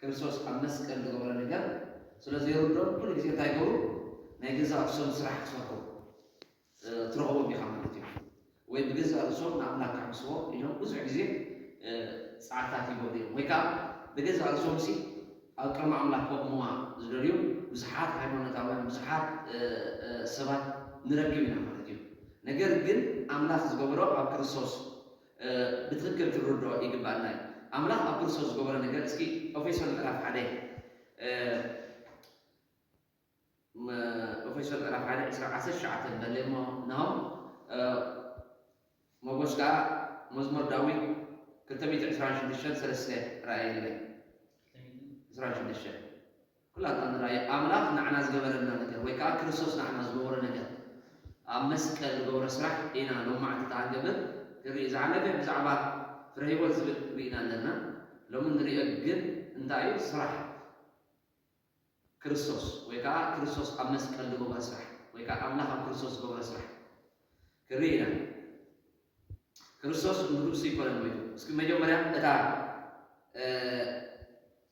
ክርስቶስ ኣብ መስቀል ዝገብሮ ነገር ስለ ዘይርድኦም ኩሉ ግዜ እንታይ ይገብሩ ናይ ገዛእ ርእሶም ስራሕ ክሰርሑ ትረኽቦም ኢኻ ማለት እዩ። ወይ ብገዛእ ርእሶም ንኣምላክ ከሕምስዎ ኢሎም ብዙሕ ግዜ ጻዕርታት ይገብሩ እዮም። ወይ ከዓ ብገዛእ ርእሶም ሲ ኣብ ቅድሚ ኣምላክ ከቑምዋ ዝደልዩ ብዙሓት ሃይማኖታውያን ብዙሓት ሰባት ንረክብ ኢና ማለት እዩ። ነገር ግን ኣምላክ ዝገበሮ ኣብ ክርስቶስ ብትክክል ክንርድኦ ይግበኣና እዩ ኣምላክ ኣብ ክርስቶስ ዝገበሮ ነገር እስኪ ኦፌሶን ምዕራፍ ሓደ ኦፌሶን ምዕራፍ ሓደ ዕስራ ዓሰርተ ትሽዓተ ንበለ እሞ ነው መጎስ ከዓ መዝሙር ዳዊት ክልተ ሚእቲ ዕስራን ሽዱሽተን ሰለስተ ራእይ ንበል ዕስራን ሽዱሽተን ኩላትና ንርኣዮ። ኣምላኽ ንዓና ዝገበረልና ነገር ወይ ከኣ ክርስቶስ ንዓና ዝገበሮ ነገር ኣብ መስቀል ዝገብሮ ስራሕ ኢና ሎማዕትታ ንገብር ክንርኢ ዝሓለፈ ብዛዕባ ፍረ ህይወት ዝብል ርኢና ኣለና ሎሚ ንርኦ ግን እንታይ እዩ ስራሕ ክርስቶስ ወይ ከኣ ክርስቶስ ኣብ መስቀል ዝገብሮ ስራሕ ወይ ከኣ ኣምላኽ ኣብ ክርስቶስ ዝገብሮ ስራሕ ክንርኢ ኢና ክርስቶስ ንርእሱ ይኮነን ሞይቱ እስኪ መጀመርያ እታ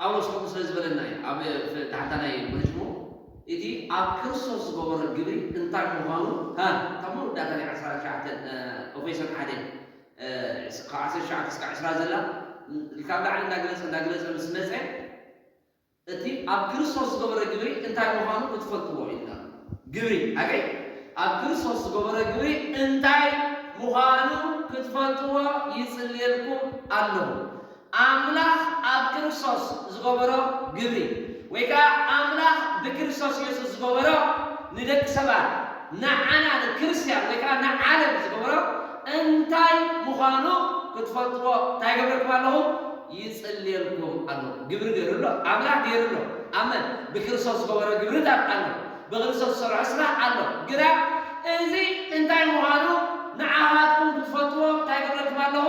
ጳውሎስ ከምኡ ስለ ዝበለና እዩ ኣብ ፍ ታሕታ ናይ መሕሽሞ እቲ ኣብ ክርስቶስ ዝገበሮ ግብሪ እንታይ ምዃኑ ሃ እታ መወዳእታ ናይ ዓስራ ትሽዓተ ኦፌሶን ሓደ ካብ ዓሰርተ ትሽዓተ እስካብ ዕስራ ዘላ ኢልካ ኣብ ላዕሊ እንዳገለጸ እንዳገለጸ ምስ መጸ እቲ ኣብ ክርስቶስ ዝገበሮ ግብሪ እንታይ ምዃኑ ክትፈልጥዎ ኢልና ኣሎ ግብሪ ኣገይ ኣብ ክርስቶስ ዝገበሮ ግብሪ እንታይ ምዃኑ ክትፈልጥዎ ይጽልየልኩም ኣለኹ። ኣምላኽ ኣብ ክርስቶስ ዝገበሮ ግብሪ ወይ ከኣ ኣምላኽ ብክርስቶስ የሱስ ዝገበሮ ንደቂ ሰባት ንዓና ንክርስትያን ወይ ከኣ ንዓለም ዝገበሮ እንታይ ምዃኑ ክትፈልጥዎ እንታይ ይገብረልኩም ኣለኹ ይጽልየልኩም ኣለኹ ግብሪ ገሩ ኣሎ ኣምላኽ ገሩ ኣሎ ኣብ መን ብክርስቶስ ዝገበሮ ግብርታት ኣሎ ብክርስቶስ ዝሰርሖ ስራሕ ኣሎ ግና እዚ እንታይ ምዃኑ ንዓኻትኩም ክትፈልጥዎ እንታይ ይገብረልኩም ኣለኹ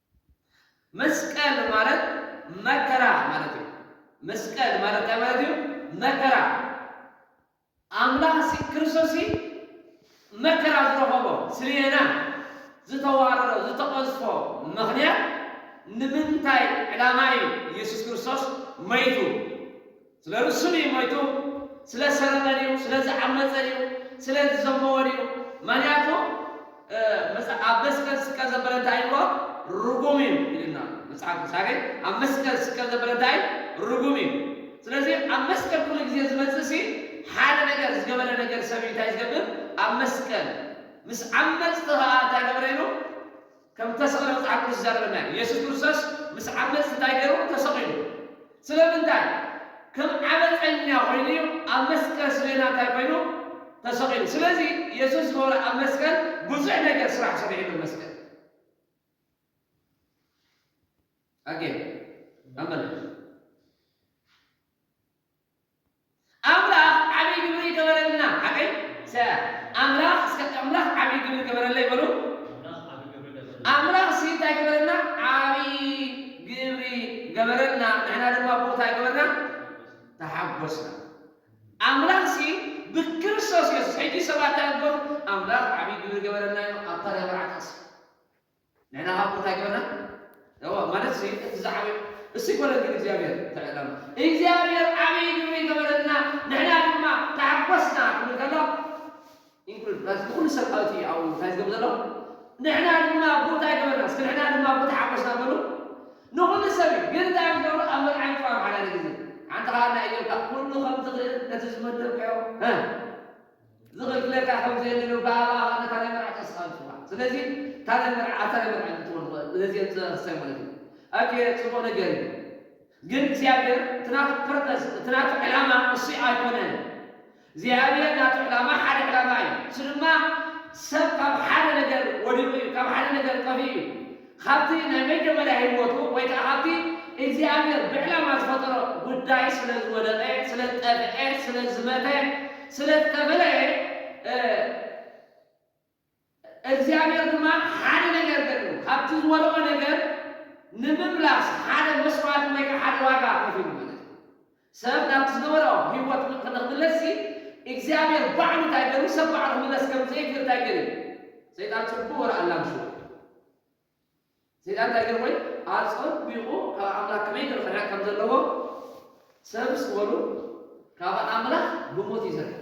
መስቀል ማለት መከራ ማለት እዩ። መስቀል ማለት ታይ ማለት እዩ? መከራ ኣምላኽ ሲ ክርስቶስ ሲ መከራ ዝረኸቦ ስሌና ዝተዋረዶ ዝተቐዝፎ ምኽንያት ንምንታይ ዕላማ እዩ ኢየሱስ ክርስቶስ መይቱ? ስለ ርእሱ ድዩ ሞይቱ? ስለ ሰረቐ ድዩ? ስለ ዝዓመጸ ድዩ? ስለ ዝዘመወ ድዩ? መክንያቱ ኣብ መስቀል ዝስቀል ዘበለ እንታይ ኢልዎ? ርጉም እዩ ኢሉና ኣሎ መጽሓፍ ቅዱስ ኣሜን ኣብ መስቀል ዝስቀል ዘበለ እንታይ እዩ? ርጉም እዩ። ስለዚ ኣብ መስቀል ኩሉ ግዜ ዝመጽእሲ ሓደ ነገር ዝገበረ ነገር ሰብ እዩ እንታይ ዝገብር ኣብ መስቀል ምስ ዓመጽቲ ከኣ እንታይ ገብረ ኢሉ ከም እተሰቕለ መጽሓፍ ቅዱስ ይዛረበና እዩ። የሱስ ክርስቶስ ምስ ዓመጽ እንታይ ገይሩ? ተሰቒሉ። ስለምንታይ? ከም ዓመጸኛ ኾይኑ እዩ ኣብ መስቀል ስሌና እንታይ ኮይኑ? ተሰቒሉ። ስለዚ የሱስ ዝገበሮ ኣብ መስቀል ብዙሕ ነገር ስራሕ ሰሪሑ ኣሎ መስቀል። ኣጌን ኣመን። ኣምላኽ ዓቢ ግብሪ ገበረልና ሓቀይ ሰ ኣምላኽ እስከ ኣምላኽ ዓቢ ግብሪ ገበረለይ በሉ ኣምላኽ ሲ እንታይ ገበረልና ዓቢ ግብሪ ገበረልና ንሕና ድማ ብኡ እንታይ ገበርና ተሓጎስና ኣምላኽ ሲ ብክርስቶስ የሱስ ሕጂ ሰባት እንታይ ገበሩ ኣምላኽ ዓቢ ግብሪ ገበረልና ኢሎም ኣብ ታርያ መርዓ ጥቕሲ ንሕና ከኣ እሞ እንታይ ገበርና? እወ፣ ማለትሲ እቲ ዝዓበየ እሱይ ኮነ ግን እግዚኣብሔር እንታይ በለና? እግዚኣብሔር ዓብይ ግብሪ ገበረልና ንሕና ድማ ተሓጎስና ክብል ከሎ ኢንክሉድ ማለት ንኩሉ ሰብ ኣብቲ ኣብኡ እንታይ ዝገብር ዘሎ ንሕና ድማ ብኡ እንታይ ገበርና? እስኪ ንሕና ድማ ብኡ ተሓጎስና በሉ። ንኩሉ ሰብ እዩ ግን እንታይ እዮም ዝገብሩ? ኣብ መርዓን ጥራም ሓዳነ ግዜ ሓንቲ ከኣ ናይ እዮብካ ኩሉ ከም ዝኽእል ነቲ ዝመደብካዮ ዝኽፍለካ ከም ዘየለ ብ ኣባኻ ኸኣ ነታ ናይ መርዓ ተወስኻ ንጽዋዕ ስለዚ እታ ናይ መርዓ ኣብታ ናይ መርዓ ንእትወን ኸ ነዚኤን ትረስያ ማለት እዩ ኣኬ ጽቡቅ ነገር እዩ ግን እግዚኣብሔር እቲ ናቱ ፐርፐስ እቲ ናቱ ዕላማ እሱይ ኣይኮነን እግዚኣብሔር ናቱ ዕላማ ሓደ ዕላማ እዩ እሱ ድማ ሰብ ካብ ሓደ ነገር ወዲቁ እዩ ካብ ሓደ ነገር ጠፊኡ እዩ ኻብቲ ናይ መጀመርያ ህይወቱ ወይ ከኣ ኻብቲ እግዚኣብሔር ብዕላማ ዝፈጠሮ ጉዳይ ስለ ዝወደቐ፣ ስለ ዝጠፍኤ፣ ስለ ዝመተ፣ ስለ ዝተፈለየ፣ እግዚኣብሔር ድማ ሓደ ነገር ገድሉ፣ ኻብቲ ዝወደቖ ነገር ንምምላስ ሓደ መስዋእቲ ወይ ከኣ ሓደ ዋጋ ከፊሉ ማለት እዩ። ሰብ ናብቲ ዝነበሮ ህይወት ንኽምለስሲ እግዚኣብሔር ባዕሉ እንታይ ገሩ ሰብ ባዕሉ ክምለስ ከም ዘይክእል እንታይ ገሩ እዩ ሰይጣን ጽቡቅ ርኣ ኣላግሽዎ እዩ ሰይጣን እንታይ ገሩ ወይ ኣጸቢቁ ካብ ኣምላክ ከመይ ገሩ ክርሕቅ ከም ዘለዎ ሰብስ ወሩ ካብ ኣምላክ ብሞት እዩ ዝርሕቅ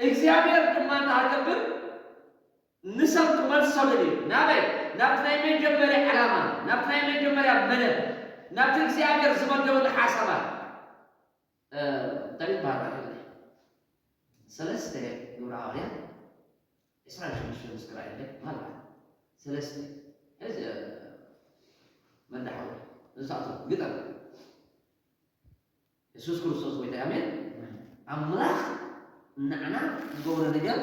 እግዚኣብሔር ድማ እንተሃገብር ንሰብ ክመልሰሉ እዩ። ናበይ? ናብቲ ናይ መጀመርያ ዕላማ፣ ናብቲ ናይ መጀመርያ መደብ፣ ናብቲ እግዚኣብሔር ዝመደበሉ ሓሳባት። እንታይ እዩ ዝበሃል ቃል ግእዝ? ሰለስተ ግብረ ሃዋርያት ዕስራን ሓሙሽተን ምስ ክረኣየለይ ምናልባት ሰለስተ ሕዚ መዳሓወይ ንሳቶም ግጠም የሱስ ክርስቶስ ጎይታይ ኣሜን ኣምላኽ ናዕና ዝገብሮ ነገር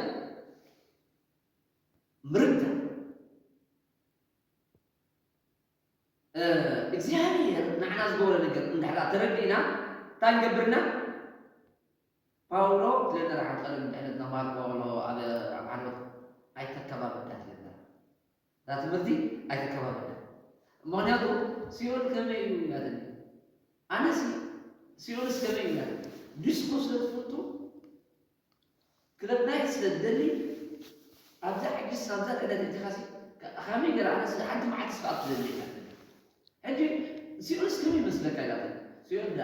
ምርዳእ እግዚኣብሔር ናዕና ዝገብሮ ነገር እንድሕር ተረዲእና እንታይ ንገብርና ፓውሎ ትለና ሓንቀርም ድሕነት ናብ ማርቆ ኣሎ ኣብ ዓርበት ኣይተከባብዳት ይለና እታ ትምህርቲ ኣይተከባብደን ምክንያቱ ሲኦል ከመይ እዩ ኢላትኒ ኣነሲ ሲኦልስ ከመይ እዩ ኢላትኒ ዲስኮ ስለ ትፍቱ ክለብ ናይት ስለ ትደሊ ኣብዛ ሕጂስ ኣብዛ ዕለት እቲኻሲ ከመይ ገራ ኣነስ ሓንቲ መዓልትስ ከዓ ትደሊ ኢላትኒ ሕጂ ሲኦልስ ከመይ ይመስለካ ኢላትኒ ሲኦል ዳ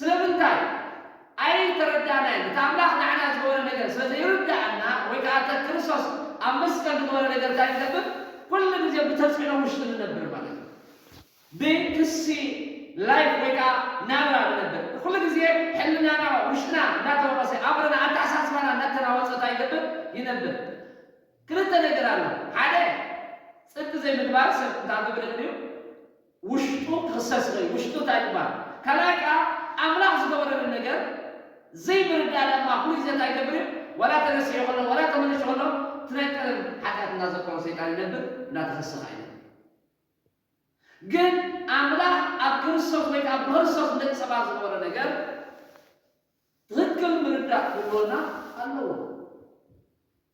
ስለምንታይ? ኣይተረዳእናዮን። እቲ ኣምላኽ ንዓና ዝገበሮ ነገር ስለ ዘይርድኣና ወይ ከኣ እተ ክርስቶስ ኣብ መስቀል ዝገበረ ነገር እንታይ ንገብር? ኩሉ ግዜ ብተጽዕኖ ውሽጢ ንነብር ማለት እዩ። ብክሲ Life ወይ ከኣ ናብራ ንነብር። ኩሉ ግዜ ሕልናና ውሽጥና እንዳተወቐሰ፣ ኣእምሮና ኣተሓሳስባና እንዳተናወጸ እንታይ ይገብር? ይነብር። ክልተ ነገር ኣሎ። ሓደ ጽድቂ ዘይምግባር ሰብ እንታይ ክገብር ይኽእል እዩ? ውሽጡ ክኽሰስ ይኽእል እዩ ውሽጡ እንታይ ክበሃል ካልኣይ ከኣ ኣምላኽ ዝገበረሉ ነገር ዘይምርዳእ ድማ ፍሉይ ግዜ እንታይ ይገብር እዩ ዋላ ተረሲዑ ከሎ ዋላ ተመሊሹ ከሎ እቲ ናይ ቀደም ሓጢኣት እንዳዘከሮ ሰይጣን ይነብር እንዳተኸሰ ከኣ ይነብር ግን ኣምላኽ ኣብ ክርስቶስ ወይ ከኣ ብክርስቶስ ንደቂ ሰባት ዝገበሮ ነገር ትኽክል ምርዳእ ክህልወና ኣለዎ።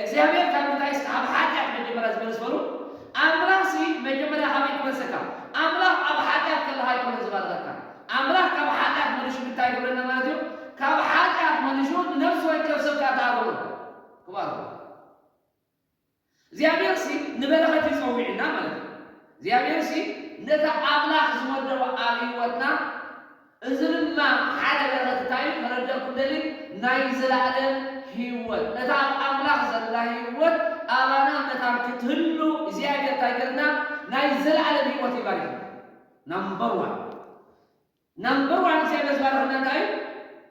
እግዚኣብሔር ካብ ምንታይስ ካብ ሓጢኣት መጀመርያ ዝመልስ በሉ ኣምላኽሲ መጀመርያ ካበይ ክመልሰካ ኣምላኽ ኣብ ሓጢኣት ከለኻ ኣይኮነን ዝባርኸካ ኣምላኽ ካብ ሓጢኣት መሊሹ ምንታይ ይገብረና ማለት እዩ ካብ ሓጢኣት መሊሹ ንነፍሲ ወከፍ ሰብ ከኣ ተኣርሞ ክባርኾ እግዚኣብሔርሲ ንበረኸት እዩ ጸዊዑና ማለት እዩ እግዚኣብሔርሲ ነታ ኣምላኽ ዝመደቦ ኣብ ህይወትና እዚ ድማ ሓደ በረኸት እንታይ እዩ ከረደእኩም ደልይ ናይ ዘላእለም ህይወት እታ ኣብ ኣምላኽ ዘላ ህይወት ኣባና መታን ክትህሉ እግዚኣብሔር እንታይ ገርና ናይ ዘላእለም ህይወት ይባሪኽና ናምበር ዋን ናምበር ዋን እግዚኣብሔር ዝባረኸና እንታይ እዩ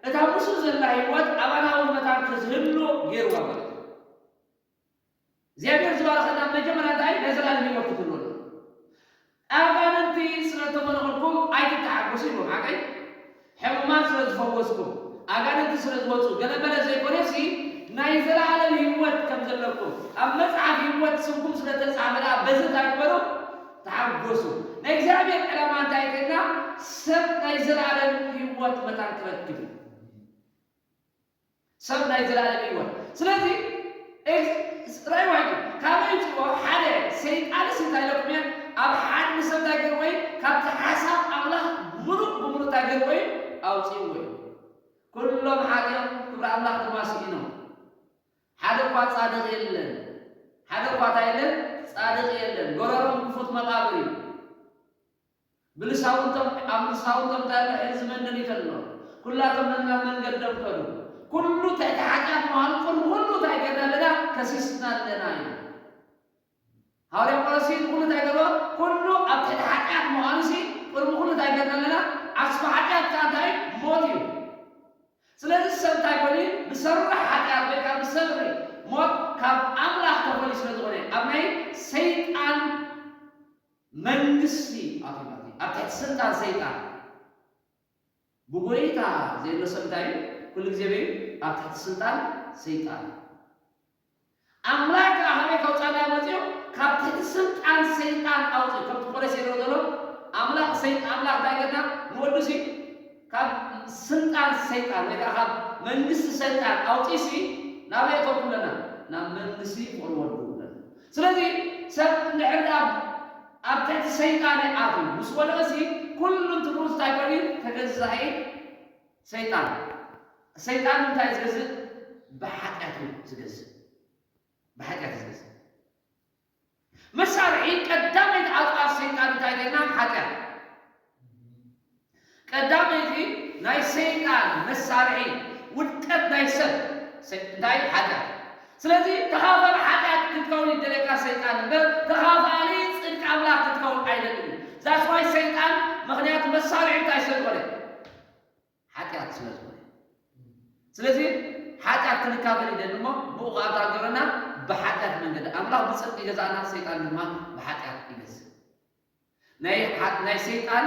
እታ ምስኡ ዘላ ህይወት ኣባና እውን መታን ክትህሉ ገይርዋ ማለት እዩ። እግዚኣብሔር ዝባረኸና መጀመርያ እንታይ ናይ ዘላለም ሂወት ክፍልወና ኣጋንንቲ ስለ ተመለኹልኩም ኣይትተሓጎሱ ኢልዎም ሓቀይ ሕሙማት ስለ ዝፈወስኩም ኣጋንንቲ ስለ ዝወጹ ገለ መለ ዘይኮነሲ ናይ ዘላለም ሂወት ከም ዘለኩም ኣብ መጽሓፍ ሂወት ስምኩም ስለ ተጻሕፈ ደኣ በዚ እንታይ ግበሩ ተሓጎሱ ናይ እግዚኣብሔር ዕላማ እንታይ ከና ሰብ ናይ ዘላለም ሂወት መታን ክረክብ እዩ ሰብ ናይ ዘላለም ህይወት ስለዚ እግዝ ራይዋ እዩ ካበይ ይምፅእዎ ሓደ ሰይጣንስ እንታይ ኢለኩም እየ ኣብ ሓድ ንሰብ እንታይ ገይርዎ እዩ ካብቲ ሓሳብ ኣምላኽ ምሉእ ብምሉእ እንታይ ገይርዎ እዩ ኣውፅእዎ እዩ ኩሎም ሓጢኦም ክብሪ ኣምላኽ ድማ ስኢኖም ሓደ እኳ ፃድቕ የለን ሓደ እኳ እንታይ የለን ፃድቕ የለን ጎረሮም ክፉት መቃብር እዩ ብልሳውንቶም ኣብ ልሳውንቶም እንታይ ኣሎ ሕዚ ዝመንደን ይተሎ ኩላቶም ነናብ መንገዶም ከዱ ኩሉ ትሕቲ ሓጢኣት ምዃኑ ቅድሚ ኩሉ እንታይ ጌርና ኣለና ከሲስና ኣለና ኢሉ ሃዋርያ ጳውሎስሲ ንኹሉ እንታይ ገርዎ ኩሉ ኣብ ትሕቲ ሓጢኣት ምዃኑሲ ቅድሚ ኩሉ እንታይ ጌርና ኣለና ዓስቢ ሓጢኣት ከኣ እንታይ እዩ ሞት እዩ ስለዚ ሰብ እንታይ ኮይኑ እዩ ብሰሪ ሓጢኣት ወይ ከኣ ብሰሪ ሞት ካብ ኣምላኽ ተፈልዩ ስለ ዝኾነ ኣብ ናይ ሰይጣን መንግስቲ ኣቶናትይ ኣብ ትሕቲ ስልጣን ሰይጣን ብጎይታ ዘየሎ ሰብ እንታይ እዩ? ኩሉ ግዜ በይ እዩ? ኣብ ትሕቲ ስልጣን ሰይጣን እዩ። ኣምላክ ከኣ ካበይ ከውጻና እዩ መጺኡ? ካብ ትሕቲ ስልጣን ሰይጣን ኣውጺኡ። ከምቲ ቆሬስ ዜይርዎ ዘሎ ኣምላክ ሰይጣ ኣምላክ እንታይ ገርና ንወዱሲ ካብ ስልጣን ሰይጣን ወይ ከኣ ካብ መንግስቲ ሰይጣን ኣውጺእሲ ናበይ እተቱ ኣለና ናብ መንግስቲ ፍቅሪ ወዱ ኣለና ስለዚ ሰብ እንድሕር ድኣ ኣብ ትሕቲ ሰይጣን እዩ ኣትዩ ምስ ወደቀሲ ኩሉ ትብሉ እንታይ ኮይኑ እዩ ተገዛኢ ሰይጣን ሰይጣን ብምንታይ እዩ ዝገዝእ ብሓጢኣት እዩ ዝገዝእ ብሓጢኣት እዩ ዝገዝእ። መሳርሒ ቀዳመይቲ ኣጽዋር ሰይጣን እንታይ ኮይና? ሓጢኣት። ቀዳመይቲ ናይ ሰይጣን መሳርሒ ውድቀት ናይ ሰብ ሰ እንታይ እዩ? ሓጢኣት እዩ። ስለዚ ተኻፋሊ ሓጢኣት ክትከውን እዩ ዝደልየካ ሰይጣን እምበር ተኻፋሊ ጽድቂ ኣምላኽ ክትከውን ኣይደልን እዩ። That's why ሰይጣን ምኽንያቱ መሳርሒ እንታይ ስለ ዝኾነ። ሓጢኣት ስለ ዝኾነ ስለዚ ሓጢኣት ክንካፈል ይደሊ እሞ ብኡ ኸኣ እንታይ ገበረና ብሓጢኣት መንገዲ ኣምላኽ ብጽድቂ ይገዛእና ሰይጣን ድማ ብሓጢኣት ይገዝእ ናይ ናይ ሰይጣን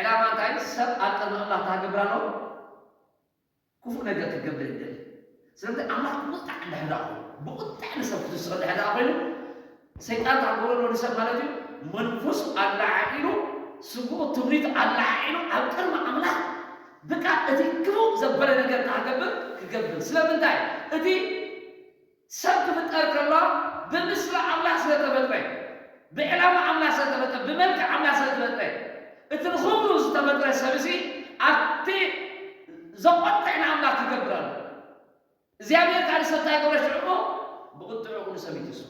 ዕላማ እንታይ ሰብ ኣብ ቅድሚ ኣምላኽ እንታይ ክገብር ኣለዎ ክፉእ ነገር ክገብር ይደሊ ስለዚ ኣምላኽ ብቁጥዕ እንድሕር ድኣ ኮይኑ ብቁጥዕ ንሰብ ክትስኦ እንድሕር ድኣ ኮይኑ ሰይጣን እንታይ ክገብሮ ኣለዎ ንሰብ ማለት እዩ መንፈሱ ኣለዓዒሉ ስግኡ ክብሪቱ ኣለዓዒሉ ኣብ ቅድሚ ኣምላኽ ብቃ እቲ ክፉእ ዘበለ ነገር እንታይ ክገብር ክገብር ስለምንታይ እቲ ሰብ ክፍጠር ከሎ ብምስሊ ኣምላኽ ስለተፈጥረ እዩ። ብዕላማ ኣምላኽ ዝተፈጥረ፣ ብመልክዕ ኣምላኽ ዝተፈጥረ፣ እቲ ንኽብሩ ዝተፈጥረ ሰብሲ ኣብቲ ዘቖጥዕ ንኣምላኽ ክገብር ኣለዎ። እግዚኣብሄር ከኣ ንሰብ እንታይ ገብሮ ሽዑ እሞ ብቝጥዕኡ ንሰብ ይትስፎ።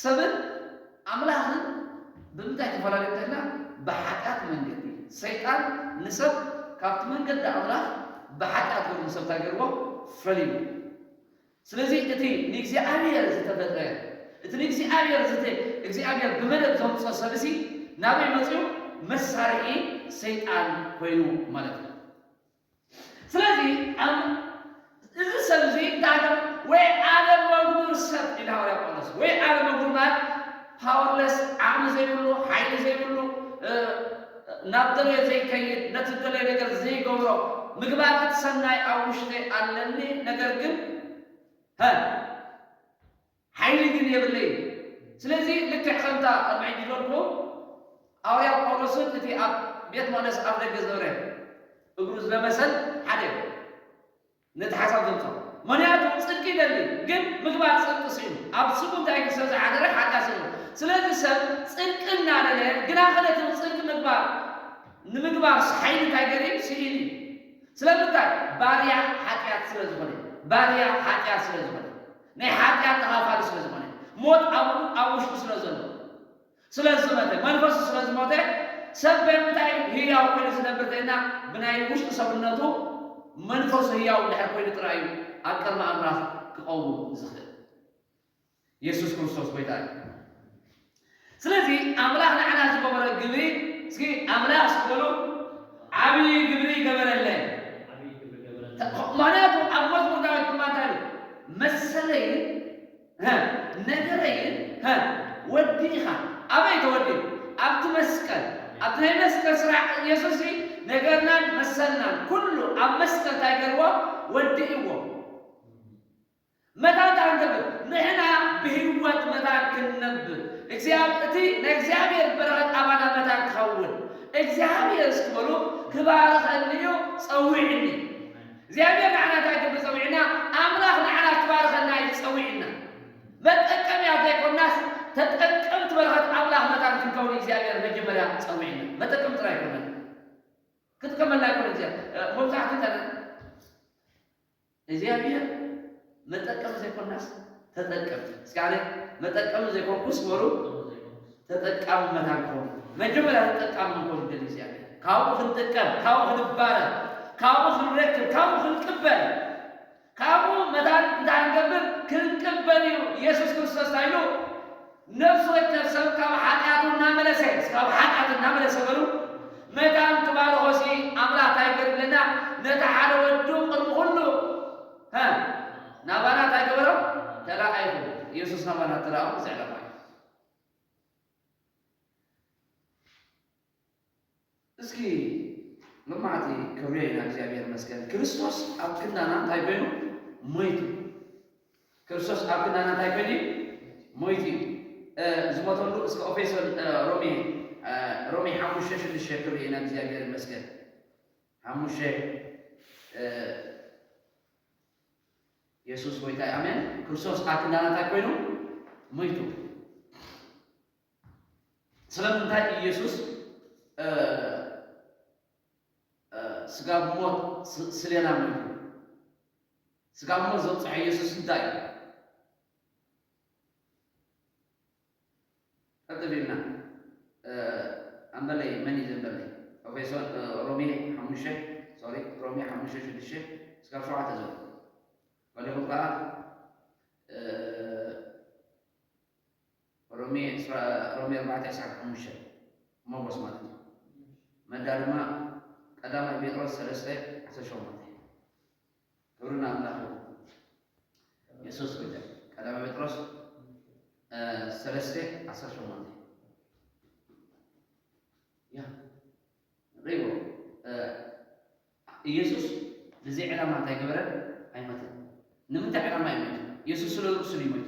ሰብን ኣምላኽን ብምንታይ ተፈላለዩ እንተልና ብሓጢኣት መንገዲ ሰይጣን ንሰብ ካብቲ መንገዲ ኣምላኽ ብሓጢኣት ገሩ ንሰብ እንታይ ገርዎ ፈልይዎ። ስለዚ እቲ ንእግዚኣብሔር ዝተፈጥረ እቲ ንእግዚኣብሔር ዝት እግዚኣብሔር ብመደብ ዘምጾ ሰብሲ ናበይ መጺኡ መሳርሒ ሰይጣን ኮይኑ ማለት እዩ ስለዚ ኣም እዚ ሰብዚ እንታይ ወይ ዓለመጉዱር ሰብ ኢሉ ሃዋርያ ጳውሎስ ወይ ዓለመጉዱር ማለት ፓወርለስ ዓቕሚ ዘይብሉ ሓይሊ ዘይብሉ ናብ ደልዮ ዘይከይድ ነቲ ዝደለዮ ነገር ዘይገብሮ ምግባር እቲ ሰናይ ኣብ ውሽጠይ ኣለኒ ነገር ግን ሀ ሓይሊ ግን የብለይን ስለዚ ልክዕ ከምታ ቅድሚ ሕጂ ዝበልክዎም ኣውርያ ጳውሎስን እቲ ኣብ ቤት መቕደስ ኣፍ ደገ ዝነበረ እግሩ ዝለመሰን ሓደ እዮም። ነቲ ሓሳብ ዘምጸኦ መክንያቱ ጽድቂ ይደሊ ግን ምግባር ጽድቂ ሲኢኑ ኣብ ስቡ እንታይ ግን ሰብ ዝሓደረ ሓጢኣት ዘለዎ ስለዚ ሰብ ጽድቂ እናደለየ ግና ከ ነቲ ጽድቂ ምግባር ንምግባር ሓይሊ እንታይ ገሩ እዩ ሲኢኑ እዩ ስለምንታይ ባርያ ሓጢኣት ስለ ዝኮነ ባርያ ሓጢኣት ስለ ዝኮነ ናይ ሓጢኣት ተካፋሊ ስለ ዝኮነ ሞት ኣብኡ ኣብ ውሽጡ ስለ ዘሎ ስለ ዝመተ፣ መንፈሱ ስለ ዝሞተ፣ ሰብ በምንታይ እዩ ህያው ኮይኑ ዝነብር ተይልና ብናይ ውሽጢ ሰብነቱ መንፈሱ ህያው እንድሕር ኮይኑ ጥራይ እዩ ኣብ ቅድሚ ኣምላኽ ክቐውም ዝኽእል። የሱስ ክርስቶስ ጎይታ እዩ። ስለዚ ኣምላኽ ንዓና ዝገበሮ ግብሪ እስኪ ኣምላኽ እስኪ በሉ ዓብዪ ግብሪ ገበረለይ። ምክንያቱ ኣብ መዝሙር ዳዊት ድማ እንታይ ኢሉ መሰለይን ሀ ነገረ ግን ሀ ወዲ ኢኻ ኣበይ ተወሊዱ ኣብቲ መስቀል ኣብቲ ናይ መስቀል ስራሕ እየሱስሲ ነገርናን መሰልናን ኩሉ ኣብ መስቀል እንታይ ገርዎ ወዲእዎ መታን ታንገብር ንሕና ብህይወት መታን ክንነብር እግዚኣብ እቲ ናይ እግዚኣብሔር በረኸት ኣባና መታን ክኸውን እግዚኣብሔር እስኪ በሉ ክባርኸኒ እዩ ጸዊዕኒ። እግዚኣብሔር ንዓና እንታይ ክብል ጸዊዑና? ኣምላኽ ንዓና ክባርኸና እዩ ጸዊዑና። መጠቀምያ ዘይኮናስ ተጠቀምቲ በረኸት ኣምላኽ መታን ክንከውን እዩ እግዚኣብሔር መጀመርያ ጸዊዑና። መጠቀምቲ ጥራይ ኣይኮናን። ክጥቀመልና ኣይኮነን እግዚኣብ መብዛሕትኡ እታ እግዚኣብሔር መጠቀሚ ዘይኮናስ ተጠቀምቲ እስኪ ኣነ መጠቀሚ ዘይኮንኩስ በሉ ተጠቃሚ መታን ክኸውን መጀመርያ ተጠቃሚ ክንከውን ይደሊ እግዚኣብሔር ካብኡ ክንጥቀም ካብኡ ክንባረር ካብኡ ክንረክብ ካብኡ ክንቅበል ካብኡ መታን እንታይ ክንገብር ክንቅበል እዩ ኢየሱስ ክርስቶስ እንታይ ኢሉ ነፍሱ ወከፍ ሰብ ካብ ሓጢኣቱ እናመለሰ ካብ ሓጢኣት እናመለሰ በሉ መታን ክባርኾ ሲ ኣምላኽ እንታይ ይገብር ኣለና ነቲ ሓደ ወዱ ቅድሚ ኩሉ ሃ ናባና ታይ ገበሮም ተራኣይኹም ኢየሱስ ናባና እትራኦም እዚ ዕላማ እዩ እስኪ ልማዕቲ ክብሪ ኢና እግዚኣብሔር መስገን ክርስቶስ ኣብ ክንዳና እንታይ ኮይኑ ሞይቱ ክርስቶስ ኣብ ክንዳና እንታይ ኮይኑ እዩ ሞይቱ እዩ ዝሞተሉ እስከ ኦፌሶን ሮሜ ሮሜ ሓሙሽተ ሽዱሽተ ክብሪ ኢና እግዚኣብሔር መስገን ሓሙሽተ የሱስ ጎይታ እዩ ኣሜን ክርስቶስ ኣብ ክንዳና እንታይ ኮይኑ ሞይቱ ስለምንታይ ኢየሱስ ስጋ ብሞት ስሌና ሞይቱ ስጋ ብሞት ዘብፅሐ ኢየሱስ እንታይ እዩ ቀጽሊልና ኣምበለይ መን እዩ ዘምበለይ ኦፌሶን ሮሜ ሓሙሽተ ሶሪ ሮሜ ሓሙሽተ ሽዱሽተ እስካብ ሸውዓተ ዘሎ ገሊኹም ከዓ ሮሜ ሮሜ ኣርባዕተ ዕስራን ሓሙሽተ ሞጎስ ማለት እዩ መዳ ድማ ቀዳማይ ጴጥሮስ ሰለስተ ዓሰርተ ሸሞንተ ክብሪ ንኣምላኽ ይኹን። የሱስ ጐይታ እዩ። ቀዳማይ ጴጥሮስ እ፣ ሰለስተ ዓሰርተ ሸሞንተ ያ ሪዎ እ፣ ኢየሱስ ንዚ ዕላማ እንታይ ገበረ? ኣይሞተን። ንምንታይ ዕላማ እዩ ሞይቱ? ኢየሱስ ስለ ርእሱ ድዩ ሞይቱ?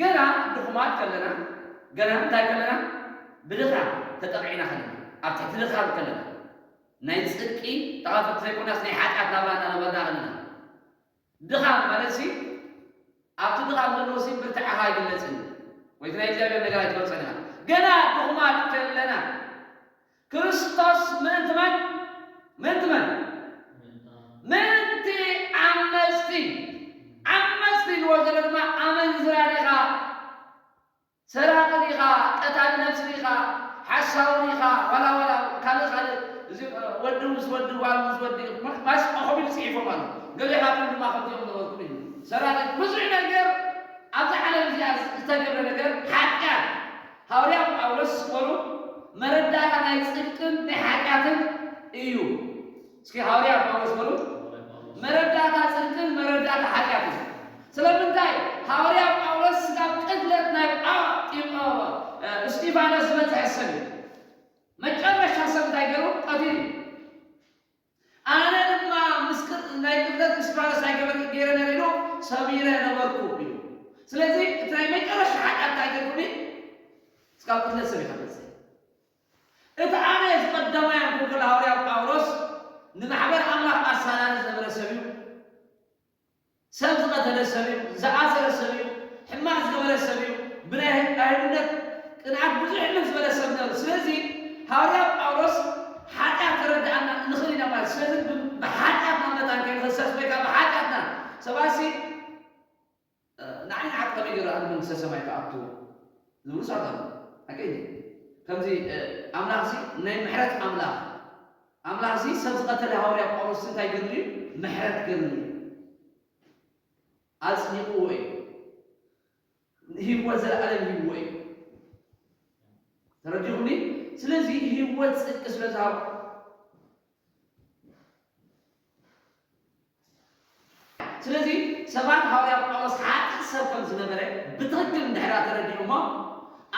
ገና ድኹማት ከለና ገና እንታይ ከለና ብድኻ ተጠቒዕና ከለና ኣብ ትሕቲ ድኻም ከለና ናይ ጽድቂ ተኻፈልቲ ዘይኮናስ ናይ ሓጢኣት ናብራ እናነበርና ከለና ድኻም ማለትሲ ኣብቲ ድኻም ዘሎሲ ብርታዐኻ ኣይግለጽን እዩ ወይ እቲ ናይ እግዚኣብሔር ነገር ኣይትፈልጾን ኢኻ ገና ድኹማት ከለና ክርስቶስ ምእንቲ መን? ምእንቲ መን? ምእንቲ ዓመጽቲ። ዓመጽቲ ኢልዎ ዘሎ ድማ ኣመንዝራ ዲኻ? ሰራቒ ዲኻ? ቀታሊ ነፍሲ ዲኻ? ሓሳዊ ዲኻ? ዋላ ዋላ ካልእ ካልእ እዚ ወዲ ምስ ወዲ ጓል ምስ ወዲ ማስቆኹም ኢሉ ጽሒፎም ኣሎ። ገሊኻትኩም ድማ ከምዚኦም ዝበልኩም ኢሉ ሰራቒ ብዙሕ ነገር ኣብዛ ዓለም እዚኣ ዝተገብረ ነገር ሓጢኣት። ሃውርያ ጳውሎስ ዝኾኑ መረዳእታ ናይ ጽድቅን ናይ ሓጢኣትን እዩ። እስኪ ሃውርያ ጳውሎስ በሉ። መረዳእታ ጽድቅን መረዳእታ ሓጢኣትን። ስለምንታይ ሃውርያ ጳውሎስ ስጋብ ቅትለት ናይ እስጢፋኖስ ዝበጽሐ ሰብ እዩ። መጨረሻ ሰብ እንታይ ገሩ ቀቲሉ እዩ። ኣነ ድማ ምስክር ናይ ቅትለት እስድራለስ ኣይገበርክን ገይረ ነይረ ኢሉ ሰሚረ ነበርኩ ኢሉ። ስለዚ እቲ ናይ መጨረሻ ሓጢኣት እንታይ ገይርኩ እኒ እስካብ ቅትለት ሰሚካ ትበፅሒ። እቲ ኣነ እዚ ቀዳማይ ኣንኮንኮላ ሃውርያ ጳውሎስ ንማሕበር ኣምላኽ ኣሳዳዲ ዝነበረ ሰብ እዩ። ሰብ ዝቐተለ ሰብ'ዩ፣ ዝኣሰረ ሰብ'ዩ፣ ሕማቕ ዝገበረ ሰብ'ዩ፣ ብናይ ኣይሁድነት ቅንኣት ብዙሕ እልም ዝበለ ሰብ ነሩ። ስለዚ ሃዋርያ ጳውሎስ ሓጢኣት ክረድኣና ንኽእል ኢና ማለት እዩ። ስለዚ ብሓጢኣትና መታን ከይንኽሰስ ወይ ከኣ ብሓጢኣትና ሰባትሲ። ንዓይ ንዓት ከመይ ገይሩ ኣብ መንግስተ ሰማይ ክኣቱ ዝብሉ ሰባት ኣለዉ ሓቀይ ድዩ ከምዚ ኣምላኽ እዚ ናይ ምሕረት ኣምላኽ ኣምላኽ እዚ ሰብ ዝቀተለ ሃወርያ ጳውሎስ እዚ እንታይ ገሩ ድዩ ምሕረት ገርሉ እዩ ኣጽዲቅዎ እዩ ህይወት ዘለኣለም ሂብዎ እዩ ተረዲኹምኒ ስለዚ ህይወት ጽድቂ ስለ ዝሃቦ ስለዚ ሰባት ሃዋርያ ጳውሎስ ሓጥእ ሰብ ከም ዝነበረ ብትኽክል እንድሕርያ ተረዲኦሞ፣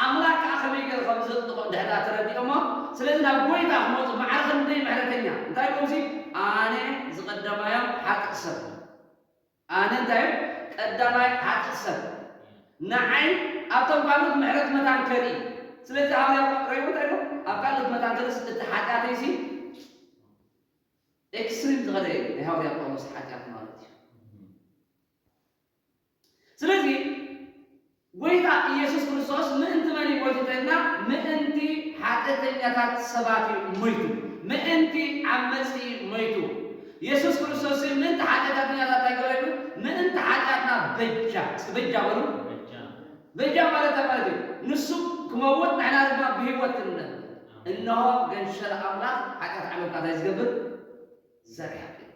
ኣምላኽ ከኣ ከመይ ገይሩ ከም ዘጽድቖ እንድሕርያ ተረዲኦሞ፣ ስለዚ ናብ ጐይታ ክመጹ ማዕረ ክንደይ ምሕረተኛ እንታይ ኢሎምሲ ኣነ ዝቐደማዮም ሓጥእ ሰብ። ኣነ እንታይ እም ቀዳማይ ሓጥእ ሰብ ንዓይ ኣብቶም ካልኦት ምሕረት መታን ከርኢ ስለዚ ሃዋርያ ጳውሎስ እንታይ ኢሉ ኣብ ካልኦት መታን ከርእስ እቲ ሓጢኣተይሲ ኤክስትሪም ዝኸደ እዩ ናይ ሃዋርያ ጳውሎስ ሓጢኣት ማለት እዩ ስለዚ ጐይታ ኢየሱስ ክርስቶስ ምእንቲ መን እዩ ሞይቱ ተኢልና ምእንቲ ሓጥእተኛታት ሰባት እዩ ሞይቱ ምእንቲ ዓመጽ እዪ ሞይቱ ኢየሱስ ክርስቶስሲ ምእንቲ ሓጢኣታትኛታት ታይ ገበረ ኢሉ ምእንቲ ሓጢኣትና በጃ እስኪ በጃ በሉ በጃ ማለት ታይ ማለት እዩ ንሱ ክመውት ንሕና ድማ ብህይወት ክንነብር እንሆ ገንሸል ኣምላኽ ሓጢኣት ዓለም ከኣ ታይ ዝገብር ዘርሕቅ እዩ።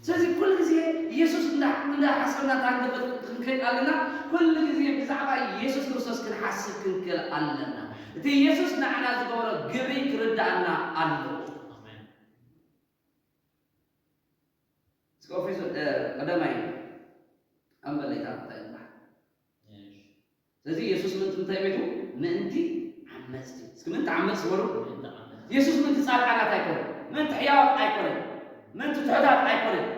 ስለዚ ኩሉ ግዜ የሱስ እንዳ እንዳ ሓሰብና ታንገፍት ክንከይድ ኣለና ኩሉ ግዜ ብዛዕባ የሱስ ክርስቶስ ክንሓስብ ክንክእል ኣለና እቲ የሱስ ንዓና ዝገበሮ ግብሪ ክርድኣና ኣለዎ። Scofield eh, kadamay ang balita tayo ba? Yes. ስለዚ የሱስ ምእንቲ እንታይ ሞይቱ? ምእንቲ ዓመጽቲ። እስኪ ምእንቲ ዓመጽቲ በሉ። የሱስ ምእንቲ ጻድቃናት ኣይኮነን። ምእንቲ ሕያዋት ኣይኮነን። ምእንቲ ትሑታት ኣይኮነን።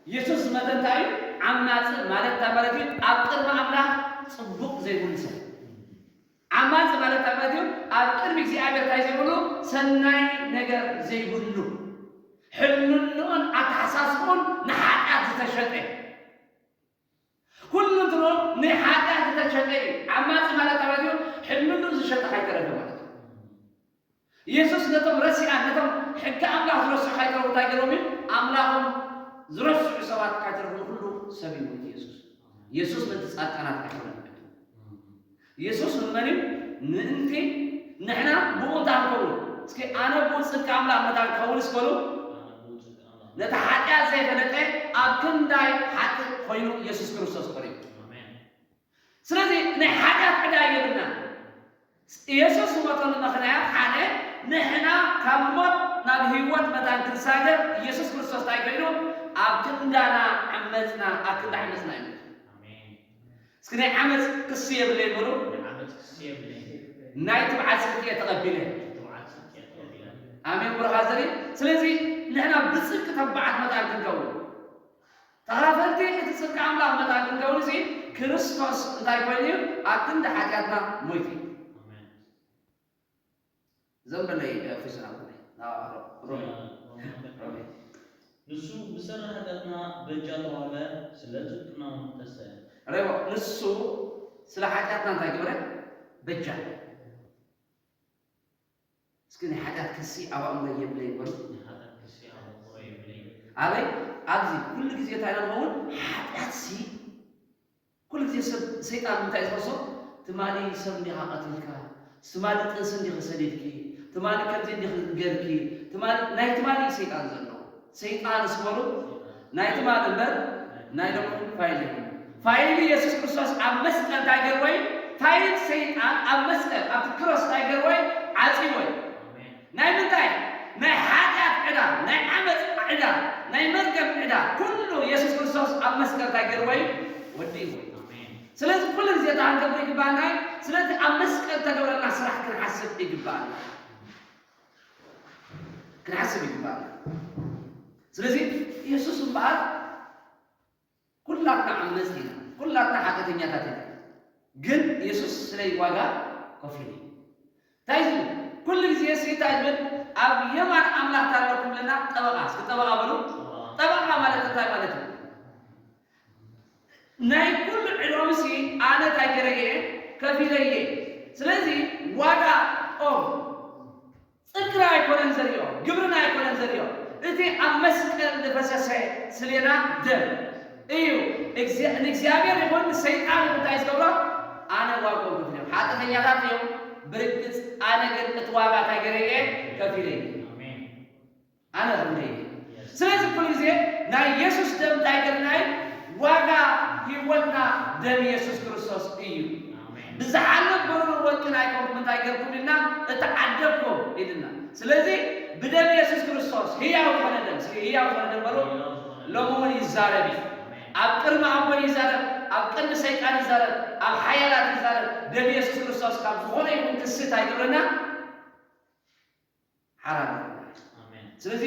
የሱስ ዝመተ እንታይ እዩ? ዓማጽ ማለት እንታይ ማለት እዩ? ኣብ ቅድሚ ኣምላኽ ጽቡቕ ዘይብሉ ሰብ። ዓማጽ ማለት እንታይ ማለት እዩ? ኣብ ቅድሚ እግዚኣብሔር እንታይ ዘይብሉ? ሰናይ ነገር ዘይብሉ። ሕልንንኡን ኣተሓሳስብኡን ንሓጢኣት ዝተሸጠ። ኩሉ ድሮ ንሓጢኣት ዝተሸጠ እዩ። ዓማጺ ማለት ኣምላኽ እዩ፣ ሕልንኡ ዝሸጠ ካይተረፈ ማለት እዩ። የሱስ ነቶም ረሲኣን ነቶም ሕጊ ኣምላኽ ዝረስዑ ካይተረፉ እንታይ ገይርዎም እዩ? ኣምላኾም ዝረስዑ ሰባት ካይተረፉ ንኹሉ ሰብ እዩ ሞይቱ የሱስ። የሱስ ምእንቲ ጻድቃናት ኣይኮነን ሞይቱ። የሱስ ንመን እዩ ምእንቲ ንሕና ብእኡ እንታይ ክንከውን እስኪ ኣነ ብኡ ጽድቂ ኣምላኽ መታን ክኸውንስ በሉ ነቲ ሓጢኣት ዘይፈለጠ ኣብ ክንዳይ ሓጥእ ኮይኑ የሱስ ክርስቶስ ቀሪቡ ስለዚ ናይ ሓጢኣት ዕዳ የብልናን የሱስ ዝሞተሉ ምኽንያት ሓደ ንሕና ካብ ሞት ናብ ህይወት መታን ክንሳገር የሱስ ክርስቶስ እንታይ ኮይኑ ኣብ ክንዳና ዓመጽና ኣብ ክንዲ ዓመጽና እዩ ሞቱ እስኪ ናይ ዓመጽ ክሲ የብለይን በሉ። ናይ ዓመጽ ክሲ የብለይን። ናይ ትብዓት ጽድቂ እየ ተቐቢለ። ናይ ትብዓት ጽድቂ እየ ተቐቢለ። ኣሜን ብሩኻት ዘርኢ ስለዚ ንሕና ብጽድቂ ተባዓት መታን ክንከውን ተኻፈልቲ እቲ ጽድቂ ኣምላኽ መታን ክንከውን እዚ ክርስቶስ እንታይ ኮይኑ እዩ ኣብ ክንዲ ሓጢኣትና ሞይቱ እዩ። ኣሜን። እዞም በለይ ፊሱን ኣቦይ ሮሜ። ንሱ ብሰሪ ሃገርና በጃ ተዋህበ ስለ ጽድቅና ውን ተሰ። ረቦ። ንሱ ስለ ሓጢኣትና እንታይ ገበረ በጃ። እስኪ ናይ ሓጢኣት ክሲ ኣብ ኣእምሮይ የብለይን በሉ። ናይ ሓጢኣት ክሲ ኣብ ኣእምሮይ የብለይን። ኣበይ ኣብዚ ኩሉ ግዜ እንታይ ኢና ንኸውን ሓጢኣትሲ ኩሉ ግዜ ሰብ ሰይጣን እንታይ እዩ ዝኸሶ ትማሊ ሰብ እንዲኻ ቀቲልካ ትማሊ ጥንሲ እንዲኺ ሰዲድኪ ትማሊ ከምዚ እንዲኺ ጌርኪ ትማሊ ናይ ትማሊ እዩ ሰይጣን ዘለዎ ሰይጣን ስመሩ ናይ ትማሊ እምበር ናይ ሎሚ ፋይል የብሉ ፋይል ኢየሱስ ክርስቶስ ኣብ መስቀል እንታይ ገርዎ እዩ ፋይል ሰይጣን ኣብ መስቀል ኣብቲ ክሮስ እንታይ ገርዎ እዩ ዓጽዎ እዩ ናይ ምንታይ ናይ ሓጢኣት ዕዳ ናይ ዓመጽ ዕዳ ናይ መርገም ዕዳ ኩሉ የሱስ ክርስቶስ ኣብ መስቀል እንታይ ጌርዎ እዩ ወዲእዎ እዩ ስለዚ ኩሉ ግዜ እንታይ ክንገብር ይግባኣና እዩ ስለቲ ኣብ መስቀል ተገብረልና ስራሕ ክንሓስብ ይግባኣና ክንሓስብ ይግባኣና ስለዚ የሱስ እምበኣር ኩላትና ዓመጽቲ ኢና፣ ኩላትና ሓጢኣተኛታት ኢና፣ ግን የሱስ ስለይ ዋጋ ከፊሉ እዩ። እንታይ እዩ ዝብል? ኩሉ ግዜሲ እንታይ ይብል? ኣብ የማን ኣምላኽ እንታይ ኣለኩም ይብለና? ጠበቓ፣ እስኪ ጠበቓ በሉ። ጠበቓ ማለት እንታይ ማለት እዩ? ናይ ኩሉ ዕዳውሲ ኣነ እንታይ ገይረ እየ? ከፊለ እየ። ስለዚ ዋጋ ኦም ጽድቅና ኣይኮነን ዘርኦ ግብርና ኣይኮነን ዘርኦ እቲ ኣብ መስቀል ዝፈሰሰ ስሌና ደም እዩ እግዚ ንእግዚኣብሔር ይኹን ንሰይጣን ይኹን ታይ ዝገብሮ ኣነ ዋግኦም ከፊለ እዮም ሓጥተኛታት እዮም ብርግጽ ኣነ ግን እቲ ዋጋ ታይ ገረ እየ ከፊለ እየ። ኣነ ክንደይ እየ ስለዚ ኩሉ ግዜ ናይ የሱስ ደም እንታይ ገርና እዩ ዋጋ ሂወትና ደም የሱስ ክርስቶስ እዩ ብዝሓልፍ ብሩርን ወርቅን ኣይኮንኩም እንታይ ገርኩም ኢልና እተዓደግኩም ኢልና ስለዚ ብደም የሱስ ክርስቶስ ህያው ዝኮነ ደም እስኪ ህያው ዝኮነ ደም በሉ ሎሚ እውን ይዛረብ እዩ ኣብ ቅድሚ ኣቦይ ይዛረብ ኣብ ቅድሚ ሰይጣን ይዛረብ ኣብ ሓያላት ይዛረብ ደም የሱስ ክርስቶስ ካብ ዝኮነ ይኹን ክስት ኣይገብረና ሓራ ገርና ኢና። ኣሜን። ስለዚ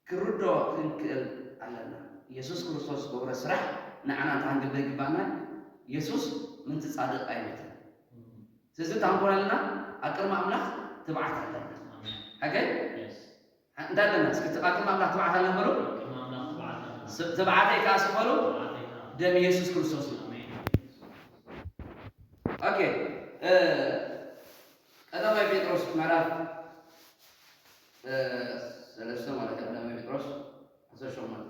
ክንርድኦ ክንክእል ኣለና። የሱስ ክርስቶስ ዝገብሮ ስራሕ ንዓና እንታይ ክንገብር ይግብኣና እዩ? የሱስ ምእንቲ ጻድቕ ኣይሞተን። ስለዚ እንታይ ክንኮን ኣለና? ኣብ ቅድሚ ኣምላኽ ትብዓት ኣለና። ኣሜን። ሓገይ? Yes። እንተ ኣለና እስኪ እቲ ቃል ከም ኣምላኽ ትብዓታልና በሉ። ከም ኣምላኽ ትብዓታልና። ዝተብዓተይ ከኣ ስም በሉ። ዝተብዓተይ ከኣ። ደም ኢየሱስ ክርስቶስ እዩ። ኦኬ ቀዳማይ ጴጥሮስ ምዕራፍ ሰለስተ ማለት ቀዳማይ ጴጥሮስ ዓሰርተ ሸሞንተ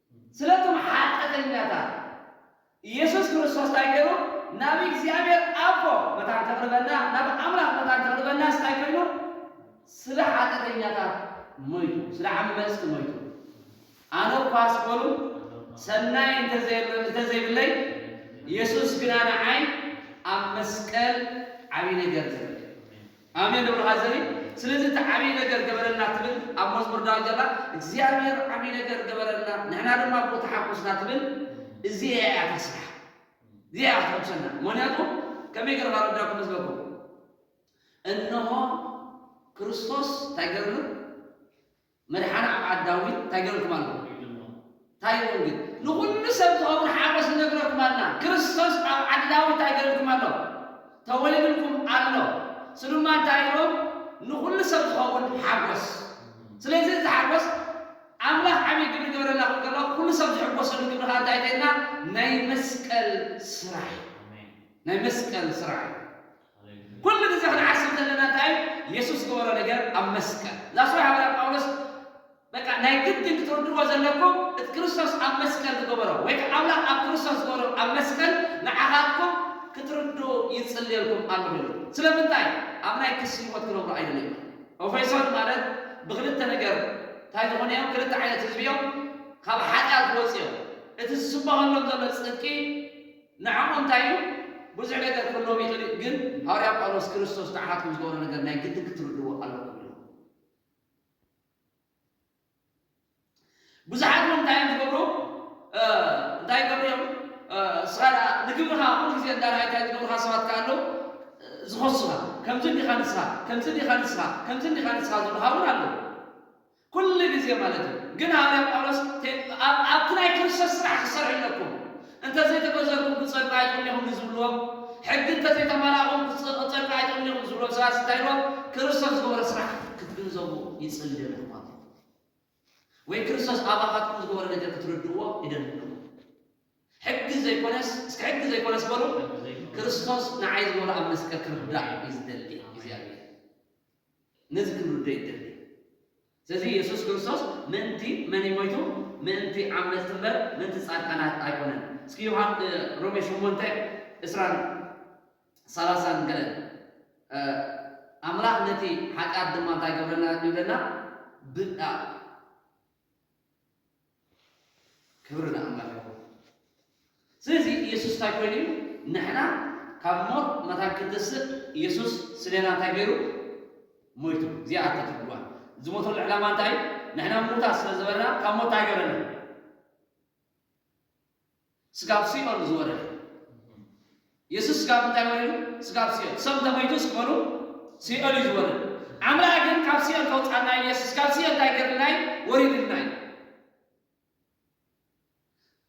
ስለቶም ሓጠተኛታት ኢየሱስ ክርስቶስ ታይ ገሩ ናብ እግዚኣብሔር ኣቦ መታን ከቅርበና ናብ ኣምላኽ መታን ከቅርበናስ ታይ ኮይኑ ስለ ሓጠተኛታት ሞይቱ ስለ ዓመጽቲ ሞይቱ ኣነ እኳስ በሉ ሰናይ እንተዘይብለይ ኢየሱስ ግና ንዓይ ኣብ መስቀል ዓብይ ነገር ገሩ ኣሜን እብሎ ሀዘኒ ስለዚ እቲ ዓብይ ነገር ገበረልና ትብል ኣብ መዝሙር ዳዊት ዘላ እግዚኣብሔር ዓብይ ነገር ገበረልና ንሕና ድማ ብኡ ተሓጎስና ትብል እዚኤያ እያ እታ ስራሕ እዚኣ እያ ክተሕጉሰና ምክንያቱ ከመይ ገረ ካረዳኩም ህዝበኩም እንሆ ክርስቶስ እንታይ ገርሉ መድሓን ኣብ ዓድ ዳዊት እንታይ ገረልኩም ኣለኹ ኢልዎ እንታይ ኢልዎም ግን ንኹሉ ሰብ ዝኸውን ሓጎስ ንነግረኩም ኣልና ክርስቶስ ኣብ ዓዲ ዳዊት እንታይ ገረልኩም ኣሎ ተወሊድልኩም ኣሎ ስሉማ እንታይ ኢልዎም ንኹሉ ሰብ ዝኸውን ሓጎስ ስለዚ እዚ ሓጎስ ኣምላኽ ዓብይ ግብሪ ይገብረልና ክብል ከሎ ኩሉ ሰብ ዝሕጎሰሉ ግብሪ ከኣ እንታይ እዩ ተይልና ናይ መስቀል ስራሕ እዩ ናይ መስቀል ስራሕ እዩ። ኩሉ ግዜ ክንዓስብ ዘለና እንታይ እዩ የሱስ ዝገበሮ ነገር ኣብ መስቀል That's why ሃዋርያ ጳውሎስ በቃ ናይ ግድን ክትርድእዎ ዘለኩም እቲ ክርስቶስ ኣብ መስቀል ዝገበሮ ወይ ከኣ ኣምላኽ ኣብ ክርስቶስ ዝገበሮ ኣብ መስቀል ንዓኻትኩም ክትርድኡ ይጽልየልኩም ኣለኹ ኢሉ ስለምንታይ ኣብ ናይ ክሲ ህይወት ክነብሩ ኣይደልዮን እዩ። ኦፌሶን ማለት ብክልተ ነገር እንታይ ዝኾኑ እዮም ክልተ ዓይነት ህዝቢ እዮም ካብ ሓጢኣት ዝወጹ እዮም እቲ ዝስበኸሎም ዘሎ ጽድቂ፣ ንዓኹም እንታይ እዩ? ብዙሕ ነገር ክህልዎም ይኽእል እዩ፣ ግን ሃዋርያ ጳውሎስ ክርስቶስ ንዓኻትኩም ዝገበሮ ነገር ናይ ግድን ክትርድእዎ ኣሎኩም ኢሉ። ብዙሓት እውን እንታይ እዮም ዝገብሩ? እንታይ ይገብሩ እዮም? ንስኻ ደኣ ንግብርኻ ኩሉ ግዜ እንዳርኣዩ እንታይ ዝገብሩኻ ሰባት ከ ኣለዉ? ዝኸሱኻ ከምዚ እንዲኻ ንስኻ ከምዚ እንዲኻ ንስኻ ከምዚ እንዲኻ ንስኻ ዝብሉኻ እውን ኣለዉ። ኩሉ ግዜ ማለት እዩ። ግን ሃዋርያ ጳውሎስ ኣብ ኣብቲ ናይ ክርስቶስ ስራሕ ክሰርሕ ኣለኩም፣ እንተ ዘይተገዘርኩም ክትጸድቁ ኣይትኽእሉን ኢኹም ንዝብልዎም፣ ሕጊ እንተ ዘይተማላእኩም ክትጸድቁ ኣይትኽእሉን ኢኹም ንዝብልዎም ሰባት እንታይ ኢልዎም? ክርስቶስ ዝገበሮ ስራሕ ክትግንዘቡ ይጽሊ ኣሎ ኣሕዋተይ። ወይ ክርስቶስ ኣባኻትኩም ዝገበሮ ነገር ክትርድእዎ ይደሊ ኣለኹ። ሕጊ ዘይኮነስ እስከ ሕጊ ዘይኮነስ በሉ፣ ክርስቶስ ንዓይ ዝገበሮ ኣብ መስቀል ክርዳእ እዩ ዝደሊ እግዚኣብሔር። ነዚ ክንርዶ ይደሊ። ስለዚ የሱስ ክርስቶስ ምእንቲ መን እዩ ሞይቱ? ምእንቲ ዓመጽቲ እምበር ምእንቲ ጻድቃናት ኣይኮነን። እስኪ ዮሃ ሮሜ ሸሞንተ ዕስራን ሰላሳን ገለ ኣምላኽ ነቲ ሓጢኣት ድማ እንታይ ገብረልና እዩ ይብለና? ብ ክብሪ ንኣምላኽ ይኹን። ስለዚ ኢየሱስ እንታይ ኮይኑ እዩ? ንሕና ካብ ሞት መታን ክንትስእ ኢየሱስ ስሌና እንታይ ገይሩ? ሞይቱ። እዚኣ ኣታ ትርጉማ። ዝሞተሉ ዕላማ እንታይ እዩ? ንሕና ምዉታት ስለ ዝበርና ካብ ሞት እንታይ ገረና? ስጋብ ሲኦል ዝወረደ የሱስ ስጋብ እንታይ ወሪዱ? ስጋብ ሲኦል። ሰብ እንተመይቱስ በሉ ሲኦል እዩ ዝወርድ። ኣምላኽ ግን ካብ ሲኦል ከውጻና እዩ የሱስ ካብ ሲኦል እንታይ ገርልና እዩ? ወሪድልና እዩ።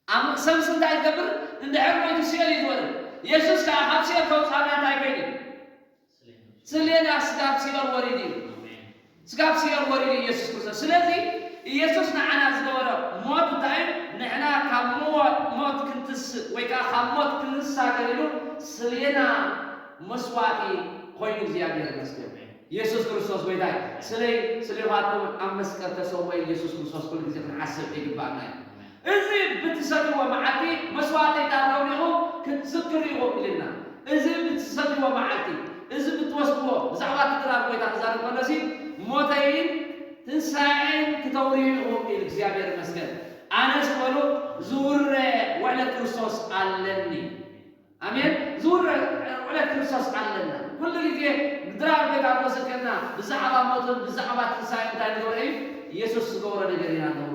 ኣም- ሰብስ እንታይ ዝገብር? እንድሕር ሞይቱ ሲኦል እዩ ዝወርድ። የሱስ ከዓ ካብ ሲኦል ከውጻና እንታይ ኮይኑ እዩ? ስለና ስጋብ ሲኦል ወሪዱ እዩ። ስጋብ ሲኦል ወሪዱ እዩ ኢየሱስ ክርስቶስ። ስለዚ ኢየሱስ ንዓና ዝገበሮ ሞት እንታይ እዩ? ንሕና ካብ ሞት ክንትስእ ወይ ከኣ ካብ ሞት ክንሳ ገሪሉ ስለና መስዋእቲ ኮይኑ እግዚኣብሔር ይመስገን። ኢየሱስ ክርስቶስ ጎይታ እዩ። ስለይ ስለኻትኩምን ኣብ መስቀል ተሰውኤ ኢየሱስ ክርስቶስ ኩሉ ግዜ ክንሓስብ ይግብኣና እዩ። እዚ ብትሰትዎ መዓልቲ መስዋእቲታት ኣውዲኹም ክትዝክሩ ኢኹም ኢልና። እዚ ብትሰትዎ መዓልቲ፣ እዚ ብትወስድዎ፣ ብዛዕባ እቲ ድራር ጎይታ ክዛረብ ከሎሲ ሞተይን ትንሳኤይን ክተውርዩ ኢኹም ኢሉ እግዚኣብሔር ይመስገን ኣነስ በሉ ዝውረ ውዕለት ክርስቶስ ኣለኒ ኣሜን ዝውረ ውዕለት ክርስቶስ ኣለና ኩሉ ግዜ ድራር ጎይታ እናዘከርና ብዛዕባ ሞቱን ብዛዕባ ትንሳኤኡን እንታይ ንገብሮ እዩ ኢየሱስ ዝገበሮ ነገር ኢና ነውሪ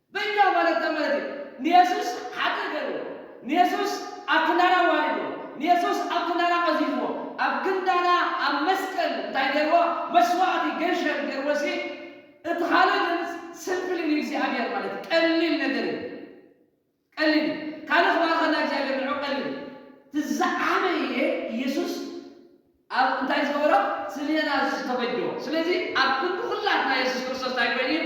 በይና ማለት እንታይ ማለት እዩ? ንየሱስ ሓጥእ ገርዎ፣ ንየሱስ ኣብ ክንዳና ኣዋሪድዎ፣ ንየሱስ ኣብ ክንዳና ቀዚፍዎ፣ ኣብ ክንዳና ኣብ መስቀል እንታይ ገርዎ? መስዋእቲ፣ ገንሸል፣ ገርዎሲ፣ እቲ ካልእ ግን ስምፕሊ ንእግዚኣብሔር ማለት እዩ፣ ቀሊል ነገር እዩ፣ ቀሊል እዩ፣ ካልእ ክባርኸና እግዚኣብሔር ንዕኡ ቀሊል እዩ፣ እቲ ዝዓበየ ኢየሱስ ኣብ እንታይ ዝገበሮ ስሌና ዝስ ተበጆ ስለዚ ኣብ ክንዲ ኩላትና የሱስ ክርስቶስ እንታይ ኮይኑ እዩ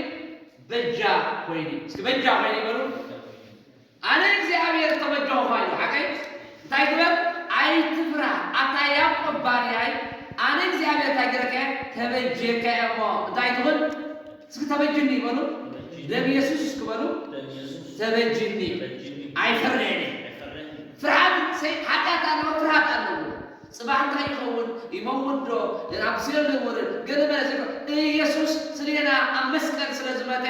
በጃ ኮይኑ እዩ እስኪ በጃ ኮይኑ እዩ በሉ ኣነ እግዚኣብሔር ተበጀኹማ ኢሉ ሓቀይ እንታይ ግበር ኣይትፍራ ኣታ ያዕቆብ ባርያይ ኣነ እግዚኣብሔር እንታይ ገረካ እየ ተበጀካ እየ እሞ እንታይ ትኹን እስኪ ተበጅኒ ይበሉ ደም የሱስ እስኪ በሉ ተበጅኒ ኣይፈርዕን ፍርሃት ኃጢአት አለው ፍርሃት አለው ጽባሕ እንታይ ይኸውን? ይመውትዶ? ናብ ሲኦል ይውርድ? ገለ መለ ዘይኮነ፣ ኢየሱስ ስሌና ኣብ መስቀል ስለ ዝመተ፣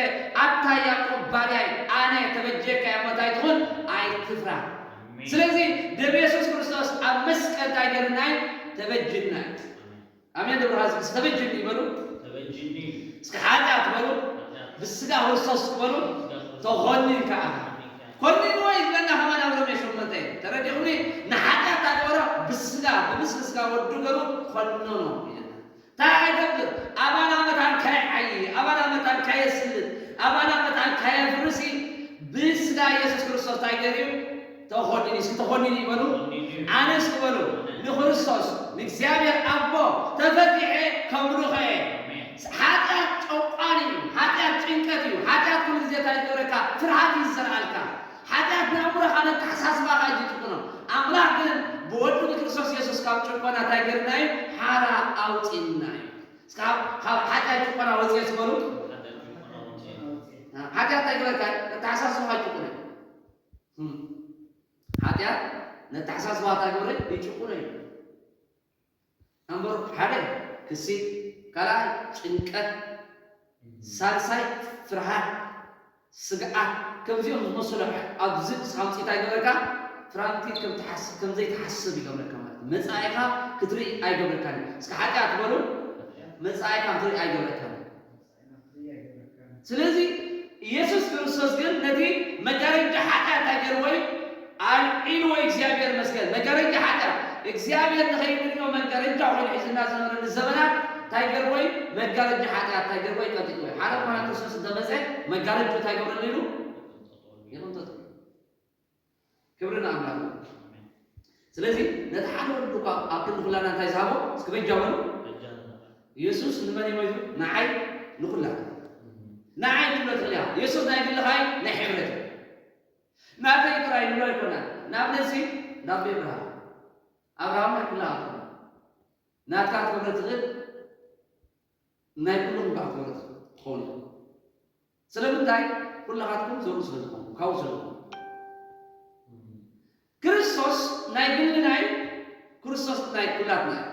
ኣታ ያቆብ ባርያይ ኣነ ተበጅየካ እየ እሞ እንታይ ትኹን ኣይትፍራህ። ኣሜን ስለዚ ደም የሱስ ክርስቶስ ኣብ መስቀል እንታይ ገይሩና እዩ? ተበጅዩና እዩ። ኣሜን። ኣሜን ደብረ ሀዝቢ እስከ በጅኒ በሉ ተበጅኒ እስከ ኃጢኣት በሉ ኃጢኣት ብስጋ ክርስቶስ በሉ ስጋ ክርስቶስ ተኾኒንካ ኣኻ ተኾኒንካ ኢኻ። ኮኒንዎ እዩ ዝብለና ከማን ኣብ ሮሜ ሸሞንተ እዩ ተረዲኡኒ ንኃጢኣት ኣግበሮ ብስጋ ብምስሊ ስጋ ወዱ ገሩ ኮነኖ ይብለና ታይ ኣይገብር ኣባና መታን ካይዓዪ ኣባና መታን ካየስልጥ ኣባና መታን ካየፍርስ ብስጋ ኢየሱስ ክርስቶስ ታይ ገሩ እዩ ተኾኒኒ እስኪ ተኾኒኒ ይበሉ ኣነ እስኪ በሉ ንክርስቶስ ንእግዚኣብሔር ኣቦ ተፈቲሐ ከምልኾ እየ ሓጢኣት ጨቋኒ እዩ ሓጢኣት ጭንቀት እዩ ሓጢኣት ኩሉ ግዜ እንታይ ይገብረካ ፍርሃት እዩ ዝዘርኣልካ ሓጢኣት ንኣእምሮኻ ነተሓሳስባኻ እዩ ዝጭቁኖ ኣምላኽ ግን ብወዱ ብክርስቶስ የሱስ ካብ ጭቆና እንታይ ገይሩና እዩ ሓራ ኣውፂእና እዩ እስኪ ካብ ሓጢኣት ጭቆና ወፂኤ እስኪ በሉ ሓጢኣት እንታይ ይገብረካ እዩ ነተሓሳስባኻ ይጭቁነ ሓጢኣት ነተሓሳስባ እታ ግብሪ ይጭቁኖ እዩ። ኣምበሩ ሓደ ክሲ፣ ካልኣይ ጭንቀት፣ ሳልሳይ ፍርሃት፣ ስግኣት ከምዚኦም ዝመሰሉ ኣብዚ ክሳምፂ እንታይ ይገብረካ ትራምቲ ከም ዘይትሓስብ ይገብረካ ማለት እዩ። መጻኢኻ ክትርኢ ኣይገብረካን እዩ። እስከ ሓጢኣት በሉ መጻኢኻ ክትርኢ ኣይገብረካን እዩ። ስለዚ ኢየሱስ ክርስቶስ ግን ነቲ መጋረጃ ሓጢኣት እንታይ ገይርዎ እዩ? ኣልዒልዎ እዩ እግዚኣብሔር ይመስገን። መጋረጃ ሓጢኣት እግዚኣብሔር ንኸይንርእዮ መጋረጃ ኮይኑ ሒዙልና ዝነበረ ንዘበናት እንታይ ገይርዎ እዩ? መጋረጃ ሓጢኣት እንታይ ገይርዎ እዩ? ቀንጢጥዎ እዩ። ሓደ ዝኾነ ክርስቶስ እንተመጸ መጋረጅኡ እንታይ ይገብረሉ ኢሉ? ይቕንጥጦ። ክብሪ ንኣምላኽ ይኹን። ስለዚ ነቲ ሓደ ወዱ እኳ ኣብ ክንዲ ኵላና እንታይ ዝሃቦ እስኪ በጃ በሉ። የሱስ ንመን እዩ ሞይቱ? ንዓይ ንዅላትና። ንዓይ ክትብሎ ትኽእል ኢኻ። የሱስ ናይ ግልኻ እዩ ናይ ሕብረት እዩ። ናተይ ጥራይ ንብሎ ኣይኮናን። ንኣብነት እዚ እንዳ ኣቦይ ኣብርሃም፣ ኣብርሃም ናይ ኵላኻትኩም እዩ። ናትካ ክትገብሮ እትኽእል ናይ ኩሎም እምበኣር ተወረስቲ ክትኾኑ ኢኹም። ስለምንታይ? ኩላኻትኩም ዘርኡ ስለ ዝኾንኩም፣ ካብኡ ስለ ዝኾንኩም። ክርስቶስ ናይ ግልና እዩ፣ ክርስቶስ ናይ ኩላትና እዩ።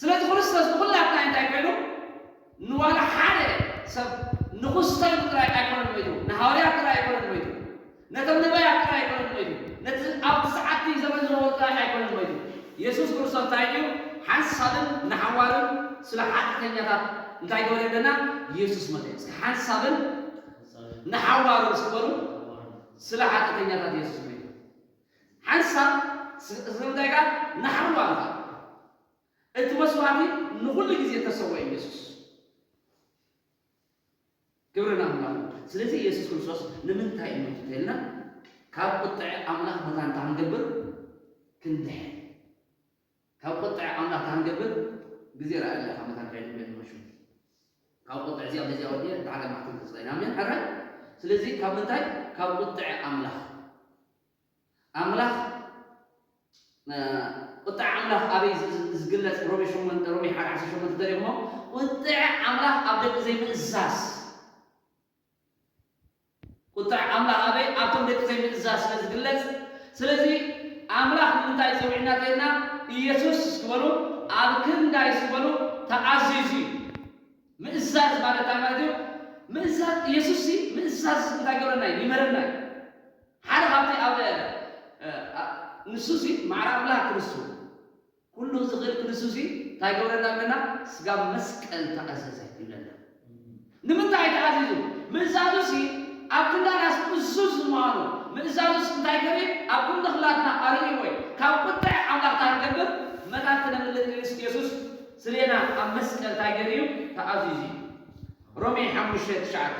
ስለዚ ክርስቶስ ንኹላትና እንታይ ኮይኑ? ንዋላ ሓደ ሰብ ንኹስተሉ ጥራይ ኣይኮነን ሞይቱ፣ ንሃዋርያት ጥራይ ኣይኮነን ሞይቱ፣ ነቶም ነባያት ጥራይ ኣይኰነን ሞይቱ፣ ነቲ ኣብቲ ሰዓትቲ ዘመን ዝነበሩ ጥራይ ኣይኰነን ሞይቱ። የሱስ ክርስቶስ እንታይ ኢዩ ሓንሳብን ንሓዋሩን ስለ ሓጢኣተኛታት እንታይ ገበረ ይብለና? የሱስ ሞተ። እስከ ሓንሳብን ንሓዋሩን እስኪ በሉ። ስለ ሓጢኣተኛታት የሱስ ሞይቱ። ሓንሳብ ስለምንታይ ከኣ? ንሓዋሩ ከኣ። እቲ መስዋእቲ ንዅሉ ግዜ እተሰውኤ ኢዩ የሱስ። ክብሪ ንኣምላኽ ይኹን። ስለዚ የሱስ ክርስቶስ ንምንታይ ሞይቱ እንተይልና ካብ ቁጥዐ ኣምላኽ መታን እንታይ ክንገብር? ክንድሕን። ካብ ቁጥዐ ኣምላኽ እንታይ ክንገብር? ግዜ ርኣየሉ ኢኻ መታን ከይንብለ ንመሹ። ካብ ቁጥዐ እዚኣ በዚኣ ወዲኣ እንተ ሓደ መዓልቲ እንተ ስቐይና ኣሜን ሕራይ። ስለዚ ካብ ምንታይ? ካብ ቁጥዐ ኣምላኽ። ኣምላኽ ቁጥዐ ኣምላኽ ኣበይ ዝግለጽ ሮሜ ሸሞንተ ሮሜ ሓደ ዓሰርተ ሸሞንተ ተሪኽሞ ቁጥዐ ኣምላኽ ኣብ ደቂ ዘይምእዛዝ ቁጥዐ ኣምላኽ ኣበይ ኣብቶም ደቂ ዘይምእዛዝ ስለ ዝግለጽ ስለዚ ኣምላኽ ንምንታይ ጸዊዕና ተይልና ኢየሱስ ስበሉ ኣብ ክንዳይ ስበሉ ተኣዚዙ እዩ ምእዛዝ ማለት እንታይ ማለት እዩ ምእዛዝ ኢየሱስ ምእዛዝ እንታይ ገረና ይመረና እዩ ሓደ ካብቲ ኣብ ንሱሲ ማዕረ ኣምላክ ክንሱ ኩሉ ዝክእል ክንሱሲ ታይ ገብረና ኣለና ስጋብ መስቀል ተኣዘዘ ይብለና ንምንታይ ተኣዚዙ ምእዛዙሲ ኣብ ክንዳናስ ቅሱስ ዝማኑ ምእዛዙስ እንታይ ገሪም ኣብ ኩሉ ክላትና ኣሪዩ ወይ ካብ ቁጥዐ ኣምላክ ታይ ክንገብር መታት ክነምልጥ ክሊስ የሱስ ስሌና ኣብ መስቀል ታይ ገሪዩ ተኣዚዙ ሮሜ ሓሙሽተ ትሽዓተ።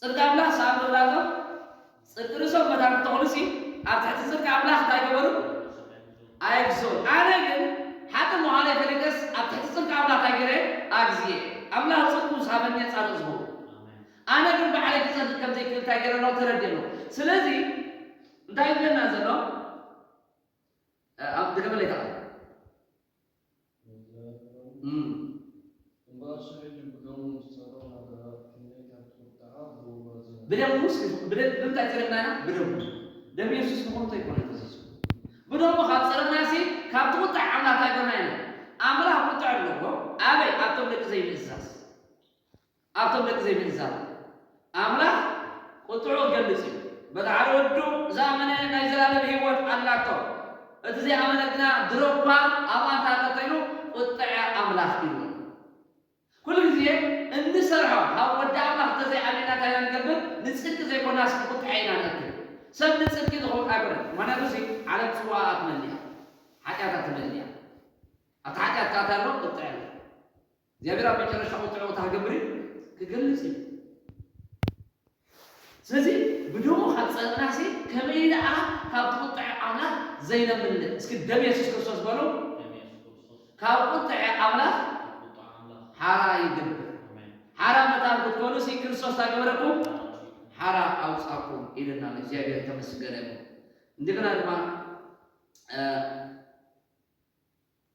ጽድቂ ኣምላኽ ዝሰኣኑ ወላዶም ጽድቂ ርእሶም መታን ክተኹኑሲ ኣብ ትሕቲ ጽድቂ ኣምላኽ እንታይ ገበሩ? ኣይግዝኡን። ኣነ ግን ሓጥእ ምዃነይ ፈሊጠስ ኣብ ትሕቲ ጽድቂ ኣምላኽ እንታይ ገይረ? ኣግዚየ። ኣምላኽ ጽድቁ ዝሃበኒ እየ ጻድቕ ዝኸውን። ኣነ ግን ባዕለይ ክጸድቕ ከም ዘይክእል እንታይ ገይረ ኣለኹ? ተረዲእ ኣለኹ። ስለዚ እንታይ እዩ ዝብለና ዘሎ? ድገመለይ እታ ቃል። ብደሙ ብምንታይ ጸረግና ኢና? ብደሙ ደም የሱስ ንኹሉ እንታይ ኮነ ተዚዙ ብደሙ ካብ ጸረግና ሲ ካብ ትቁጣዕ ኣምላኽ ኣይኮና ኢና ኣምላኽ ቁጥዕ ኣለዎ ኣበይ ኣብቶም ደቂ ዘይምእዛዝ ኣብቶም ደቂ ዘይምእዛዝ ኣምላኽ ቍጥዕኡ ክገልጽ እዩ። በብዓል ወዱ ዝኣመነ ናይ ዘልኣለም ህይወት ኣላቶ፣ እቲ ዘይኣመነ ግና ድሮ እኳ ኣብኡ ኣንተ ኣሎቶ ኢሉ ቍጥዐ ኣምላኽ ኢሉ ኣሎ። ኩሉ ግዜ እንሰርሖ ካብ ወዲ ኣምላኽ እንተ ዘይኣሚንና እንታይ ኢና ንገብር? ንጽድቂ ዘይኮናስ ንቍጥዐ ኢና ንእክል። ሰብ ንጽድቂ ዝኸውን ኣይኮነን፣ ምኽንያቱ እዚ ዓለም ጽዋኣኣ ትመልእ እያ፣ ሓጢኣታ ትመልእ እያ። ኣብቲ ሓጢኣት ከኣ እንታይ ኣሎ? ቍጥዐ ኣሎ። እግዚኣብሔር ኣብ መጨረሻ ቁጥዑ ክታገብር እዩ ክገልጽ እዩ ስለዚ ብደሙ ካብ ጸለናሲ ከመይ ደኣ ካብ ቁጥዐ ኣምላኽ ዘይነምልጥ እስኪ ደም የሱስ ክርስቶስ በሉ ካብ ቁጥዐ ኣምላኽ ሓራ ይግብር ሓራ መታን ክትኮኑ ሲ ክርስቶስ ታገበረኩም ሓራ ኣውጻኩም ኢልና እግዚኣብሔር ተመስገነ እንደገና ድማ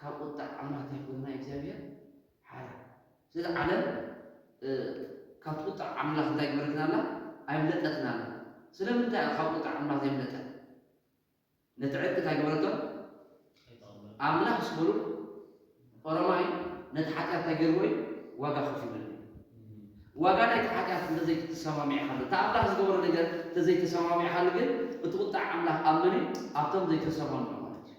ካብ ቁጣዕ ኣምላኽ ታይ ይሕግዘና እግዚኣብሔር ሓራ ስለዚ ዓለም ካብቲ ቁጣዕ ኣምላኽ እንታይ ኣይገበረትን ኣላ ኣይምለጠትን ኣላ ስለምንታይ እያ ካብ ቁጣዕ ኣምላኽ ዘይምለጠት ነቲ ዕርቂ እንታይ ገበረቶ ኣምላኽ ምስ በሉ ኦሮማይ ነቲ ሓጢኣት እንታይ ገይርዎ እዩ ዋጋ ከፊሉሉ ዋጋ ናይቲ ሓጢኣት እንተዘይተሰማሚዕኻሉ እቲ ኣምላኽ ዝገበሮ ነገር እንተዘይተሰማሚዕኻሉ ግን እቲ ቁጣዕ ኣምላኽ ኣብ መን እዩ ኣብቶም ዘይተሰማምዑ ማለት እዩ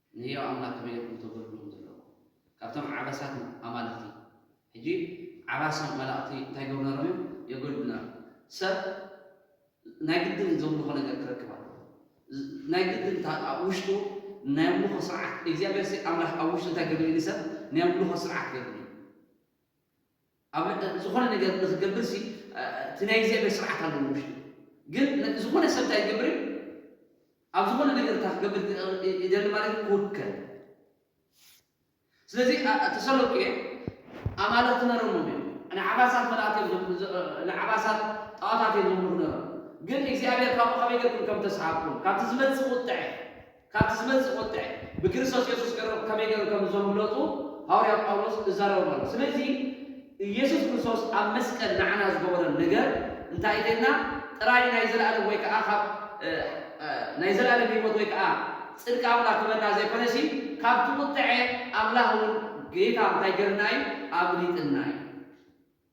ንህያው ኣምላኽ ከመይ ኢኹም ተገልግሉ ዘለኹም? ካብቶም ዓበሳት ኣማልኽቲ ሕጂ ዓባሶም መላእኽቲ እንታይ ይገብሩ ነይሮም እዮም? የገልግሉ ነይሮም። ሰብ ናይ ግድን ዘምልኾ ነገር ክረክብ ኣለዎ። ናይ ግድን እታ ኣብ ውሽጡ ናይ ኣምልኾ ስርዓት እግዚኣብሔርሲ ኣምላኽ ኣብ ውሽጡ እንታይ ገይሩሉ እዩ ንሰብ ናይ ኣምልኾ ስርዓት ገይሩሉ እዩ። ኣብ ዝኾነ ነገር ንኽገብር ሲ እቲ ናይ እግዚኣብሔር ስርዓት ኣሎ ንውሽጡ ግን ዝኾነ ሰብ እንታይ ክገብር እዩ ኣብ ዝኾነ ነገር እታ ክገብር ይደሊ ማለት እዩ ክውከል ስለዚ ተሰሎንቄ ኣማልኽቲ ነሮሞም እዮም ንዓባሳት መላእክት እዮም ንዓባሳት ጣዖታት እዮም ዘምልኹ ነሮም ግን እግዚኣብሔር ካብኡ ከመይ ገርኩም ከም ተሰሃብኩም ካብቲ ዝመጽእ ቁጥዐ ካብቲ ዝመጽእ ቁጥዐ ብክርስቶስ የሱስ ቀረብ ከመይ ገይሩ ከም ዘምለጡ ሃወርያ ጳውሎስ እዛረቦም ኣሎ። ስለዚ ኢየሱስ ክርስቶስ ኣብ መስቀል ንዓና ዝገበሮ ነገር እንታይ እዩ ተይልና ጥራይ ናይ ዘለኣለም ወይ ከኣ ካብ ናይ ዘለኣለም ህይወት ወይ ከኣ ጽድቂ ኣምላኽ ክበና ዘይኮነሲ ካብቲ ቁጥዐ ኣምላኽ እውን ጌታ እንታይ ገርና እዩ ኣምሊጥና እዩ።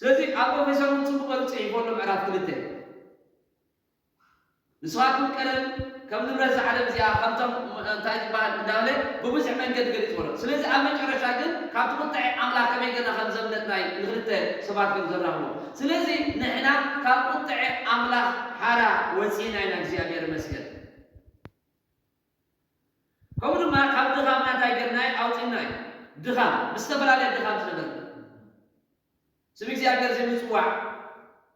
ስለዚ ኣብ ፕሮፌሰር ውን ጽቡቕ ጌሩ ጽሒፉ ኣሎ ምዕራፍ ክልተ ንስኻትኩም ቀደም ከም ንብረት እዛ ዓለም እዚኣ ከምቶም እንታይ ዝበሃል እንዳበለ ብብዙሕ መንገዲ ገሊጽዎ ኣሎ ስለዚ ኣብ መጨረሻ ግን ካብቲ ቁጥዐ ኣምላኽ ከመይ ጌርና ከም ዘምለጥና እዩ ንኽልተ ሰባት ጌሩ ዘራኽቦም ስለዚ ንሕና ካብ ቁጥዐ ኣምላኽ ሓራ ወጺእና ኢና እግዚኣብሔር ይመስገን። ከምኡ ድማ ካብ ድኻምና እንታይ ጌርናዮ? ኣውጺእና እዩ። ድኻም፣ ብዝተፈላለየ ድኻም ዝነበርና ስም እግዚኣብሄር ዘይምጽዋዕ፣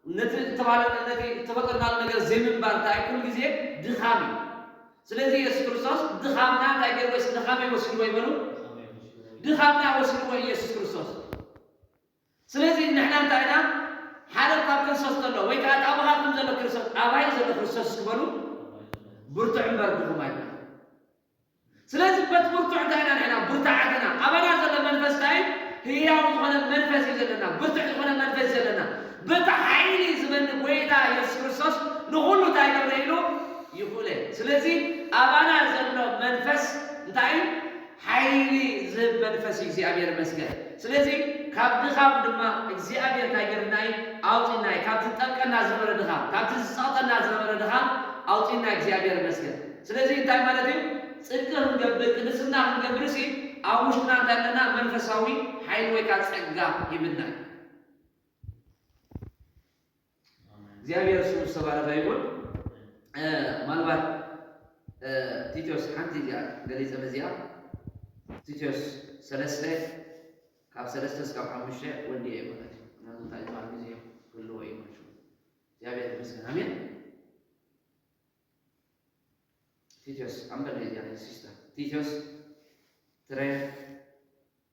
ነቲ እተባህለ ነቲ እተፈጠርናሉ ነገር ዘይምንባር እንታይ ኩሉ ግዜ ድኻም እዩ። ስለዚ ኢየሱስ ክርስቶስ ድኻምና እንታይ ጌርዎ? እስኪ ድኻመይ ወሲድዎ እዩ በሉ። ድኻምና ወሲድዎ ኢየሱስ ክርስቶስ። ስለዚ ንሕና እንታይ ኢና ሓደ ካብ ክርስቶስ ዘሎ ወይ ከኣ እቲ ኣባኻትኩም ዘሎ ክርስቶስ ኣባይ ዘሎ ክርስቶስ እስኪ በሉ ብርቱዕ እምበር ድኹም ኣይኮነን። ስለዚ በቲ ብርቱዕ እንታይ ኢና ንሕና ብርታዓት ኢና። ኣባና ዘሎ መንፈስ እንታይ እዩ? ህያው ዝኾነ መንፈስ እዩ ዘለና። ብርቱዕ ዝኾነ መንፈስ እዩ ዘለና። በቲ ሓይሊ ዝበኒ ጎይታ የሱስ ክርስቶስ ንኹሉ እንታይ ገብረ ኢሉ ይኹእለ። ስለዚ ኣባና ዘሎ መንፈስ እንታይ እዩ? ሓይሊ ዝህብ መንፈስ እዩ እግዚኣብሔር ይመስገን ስለዚ ካብ ድኻም ድማ እግዚኣብሔር ታይ ገርና እዩ ኣውፂና እዩ ካብቲ ዝጠልቀና ዝነበረ ድኻም ካብቲ ዝፀቅጠና ዝነበረ ድኻም ኣውፂና እዩ እግዚኣብሔር ይመስገን ስለዚ እንታይ ማለት እዩ ፅድቂ ክንገብር ቅድስና ክንገብር እሲ ኣብ ውሽጥና እንታይ ኣለና መንፈሳዊ ሓይሊ ወይካ ፀጋ ሂብና እዩ። እግዚኣብሔር ስሙ ዝተባረከ ይኹን። ምናልባት ቲቶስ ሓንቲ እዚኣ ገሊፀ መዚኣ ቲቶስ ሰለስተ ካብ ሰለስተ እስካብ ሓሙሽተ ወዲ እየ ማለት እዩ ምክንያቱ እንታይ ዝበሃል ግዜ ክህልዎ እዩ ማለት እዩ እግዚኣብሔር ይመስገን ኣሜን ቲቶስ ኣንበል እዚኣ ሲስተር ቲቶስ ትረ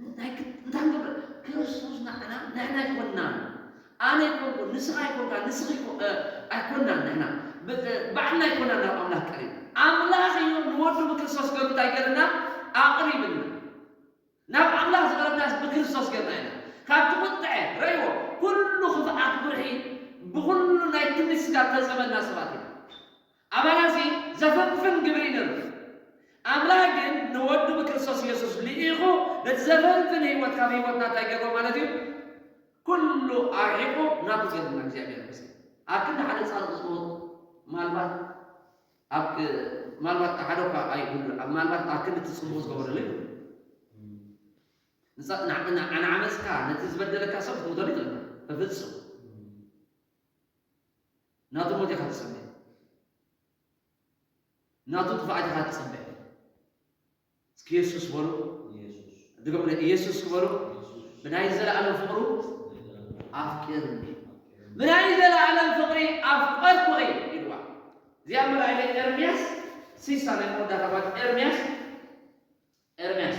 እንታይ ክብ እንታይ ክገብር ክርስቶስ ንዓና ንሕና ኣይኮናን ኣነ ኣይኮንኩን ንስኻ ኣይኮንካ ንስኺ ኣይኮ- እ፣ ኣይኮናን ንሕና ብ- እ፣ ባዕልና ኣይኮናን ናብ ኣምላኽ ቀሪብ ኣምላኽ እዮ ንወዱ ብክርስቶስ ገሩ እንታይ ገርና ኣቕሪብና ናብ ኣምላኽ ዝቐረብናስ ብክርስቶስ ገርና ኢና ካብቲ ቁጥዐ ረእይዎ ኩሉ ክፍኣት ጉርሒ ብኹሉ ናይ ትምኒት ስጋ ዝተጸበና ሰባት ኢና ኣባና እዚ ዘፍንፍን ግብሪ ይንርፍ። ኣምላኽ ግን ንወዱ ብክርስቶስ ኢየሱስ ልኢኹ ነቲ ዘፍንፍን ሕይወት ካብ ሕይወትና እንታይ ገሮ ማለት እዩ? ኩሉ ኣርሒቁ ናቱ ገርና እግዚኣብሔር ኣምጺኡ። ኣብ ክንዲ ሓደ ጻድቕ ዝሞት ማልባት ኣብ ማልባት ሓደ እኳ ኣይህሉ ማልባት ኣብ ክንዲ እቲ ጽቡቕ ዝገበረሉ ይህሉ ንዓመጽካ ነቲ ዝበደለካ ሰብ ክትሞተሉ ይኽእልካ በፍጹም ናቱ ሞት ኢኻ ትጽበ ናቱ ጥፍኣት ኢኻ ትጽበ እስኪ የሱስ በሉ ድገሙለ ኢየሱስ ክበሉ ብናይ ዘለኣለም ፍቕሩ ኣፍቂርኒ ብናይ ዘለኣለም ፍቕሪ ኣፍቀርኩ እይ ኢልዋ እዚኣ መርኣይለ ኤርምያስ ሲሳ ናይ መወዳእታ ማለት ኤርምያስ ኤርምያስ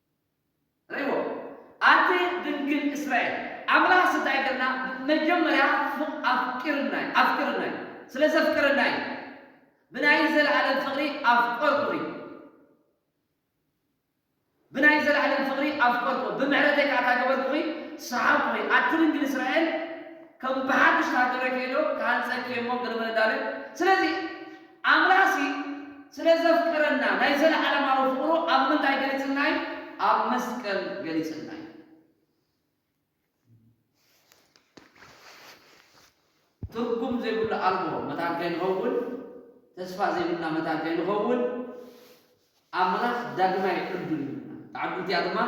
ርይዎ ኣቲ ድንግል እስራኤል ኣምላክስ እንታይ ገርና መጀመርያ ፍቅ ኣፍቂርና እዩ ኣፍቅርና እዩ ስለ ዘፍቅርና እዩ ብናይ ዘላኣለም ፍቅሪ ኣፍቀርኩኺ እዩ ብናይ ዘላኣለም ፍቅሪ ኣፍቀርኩ ብምሕረተይ ከኣ እንታይ ገበርኩኺ ሰሓብኩኺ ኣቲ ድንግል እስራኤል ከም ብሓድሽ ተሃገረኪ እየ ዶ ክሃንጸኪ እየ እሞ ገለመለ እንዳበል ስለዚ ኣምላኽሲ ስለ ዘፍቅረና ናይ ዘለኣለማዊ ፍቕሩ ኣብ ምንታይ ገሊጽልና እዩ? ኣብ መስቀል ገሊጽልና እዩ። ትርጉም ዘይብሉ ኣልቦ መታን ከይንኸውን፣ ተስፋ ዘይብልና መታን ከይንኸውን፣ ኣምላኽ ዳግማይ ዕዱል ይህበና። እታ ዕዱ እቲኣ ድማ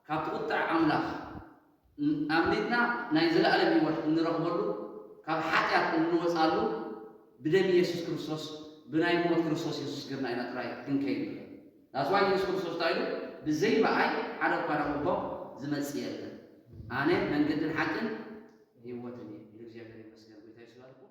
ካብቲ ቁጥዐ ኣምላኽ ኣምሊጥና ናይ ዘለኣለም ህይወት እንረኽበሉ፣ ካብ ሓጢኣት እንወጽኣሉ ብደም ኢየሱስ ክርስቶስ ብናይ ሞት ክርስቶስ ኢየሱስ ገርና ኢና ጥራይ ክንከይድ ንኽእል። That's why ኢየሱስ ክርስቶስ እንታይ ኢሉ ብዘይ በኣይ ሓደ እኳ ናብ ኣቦ ዝመጽእ የለን። ኣነ መንገድን ሓቅን ህይወትን እየ ኢሉ እግዚኣብሔር ይመስገን ጎይታ ኢየሱስ ይባርኩም።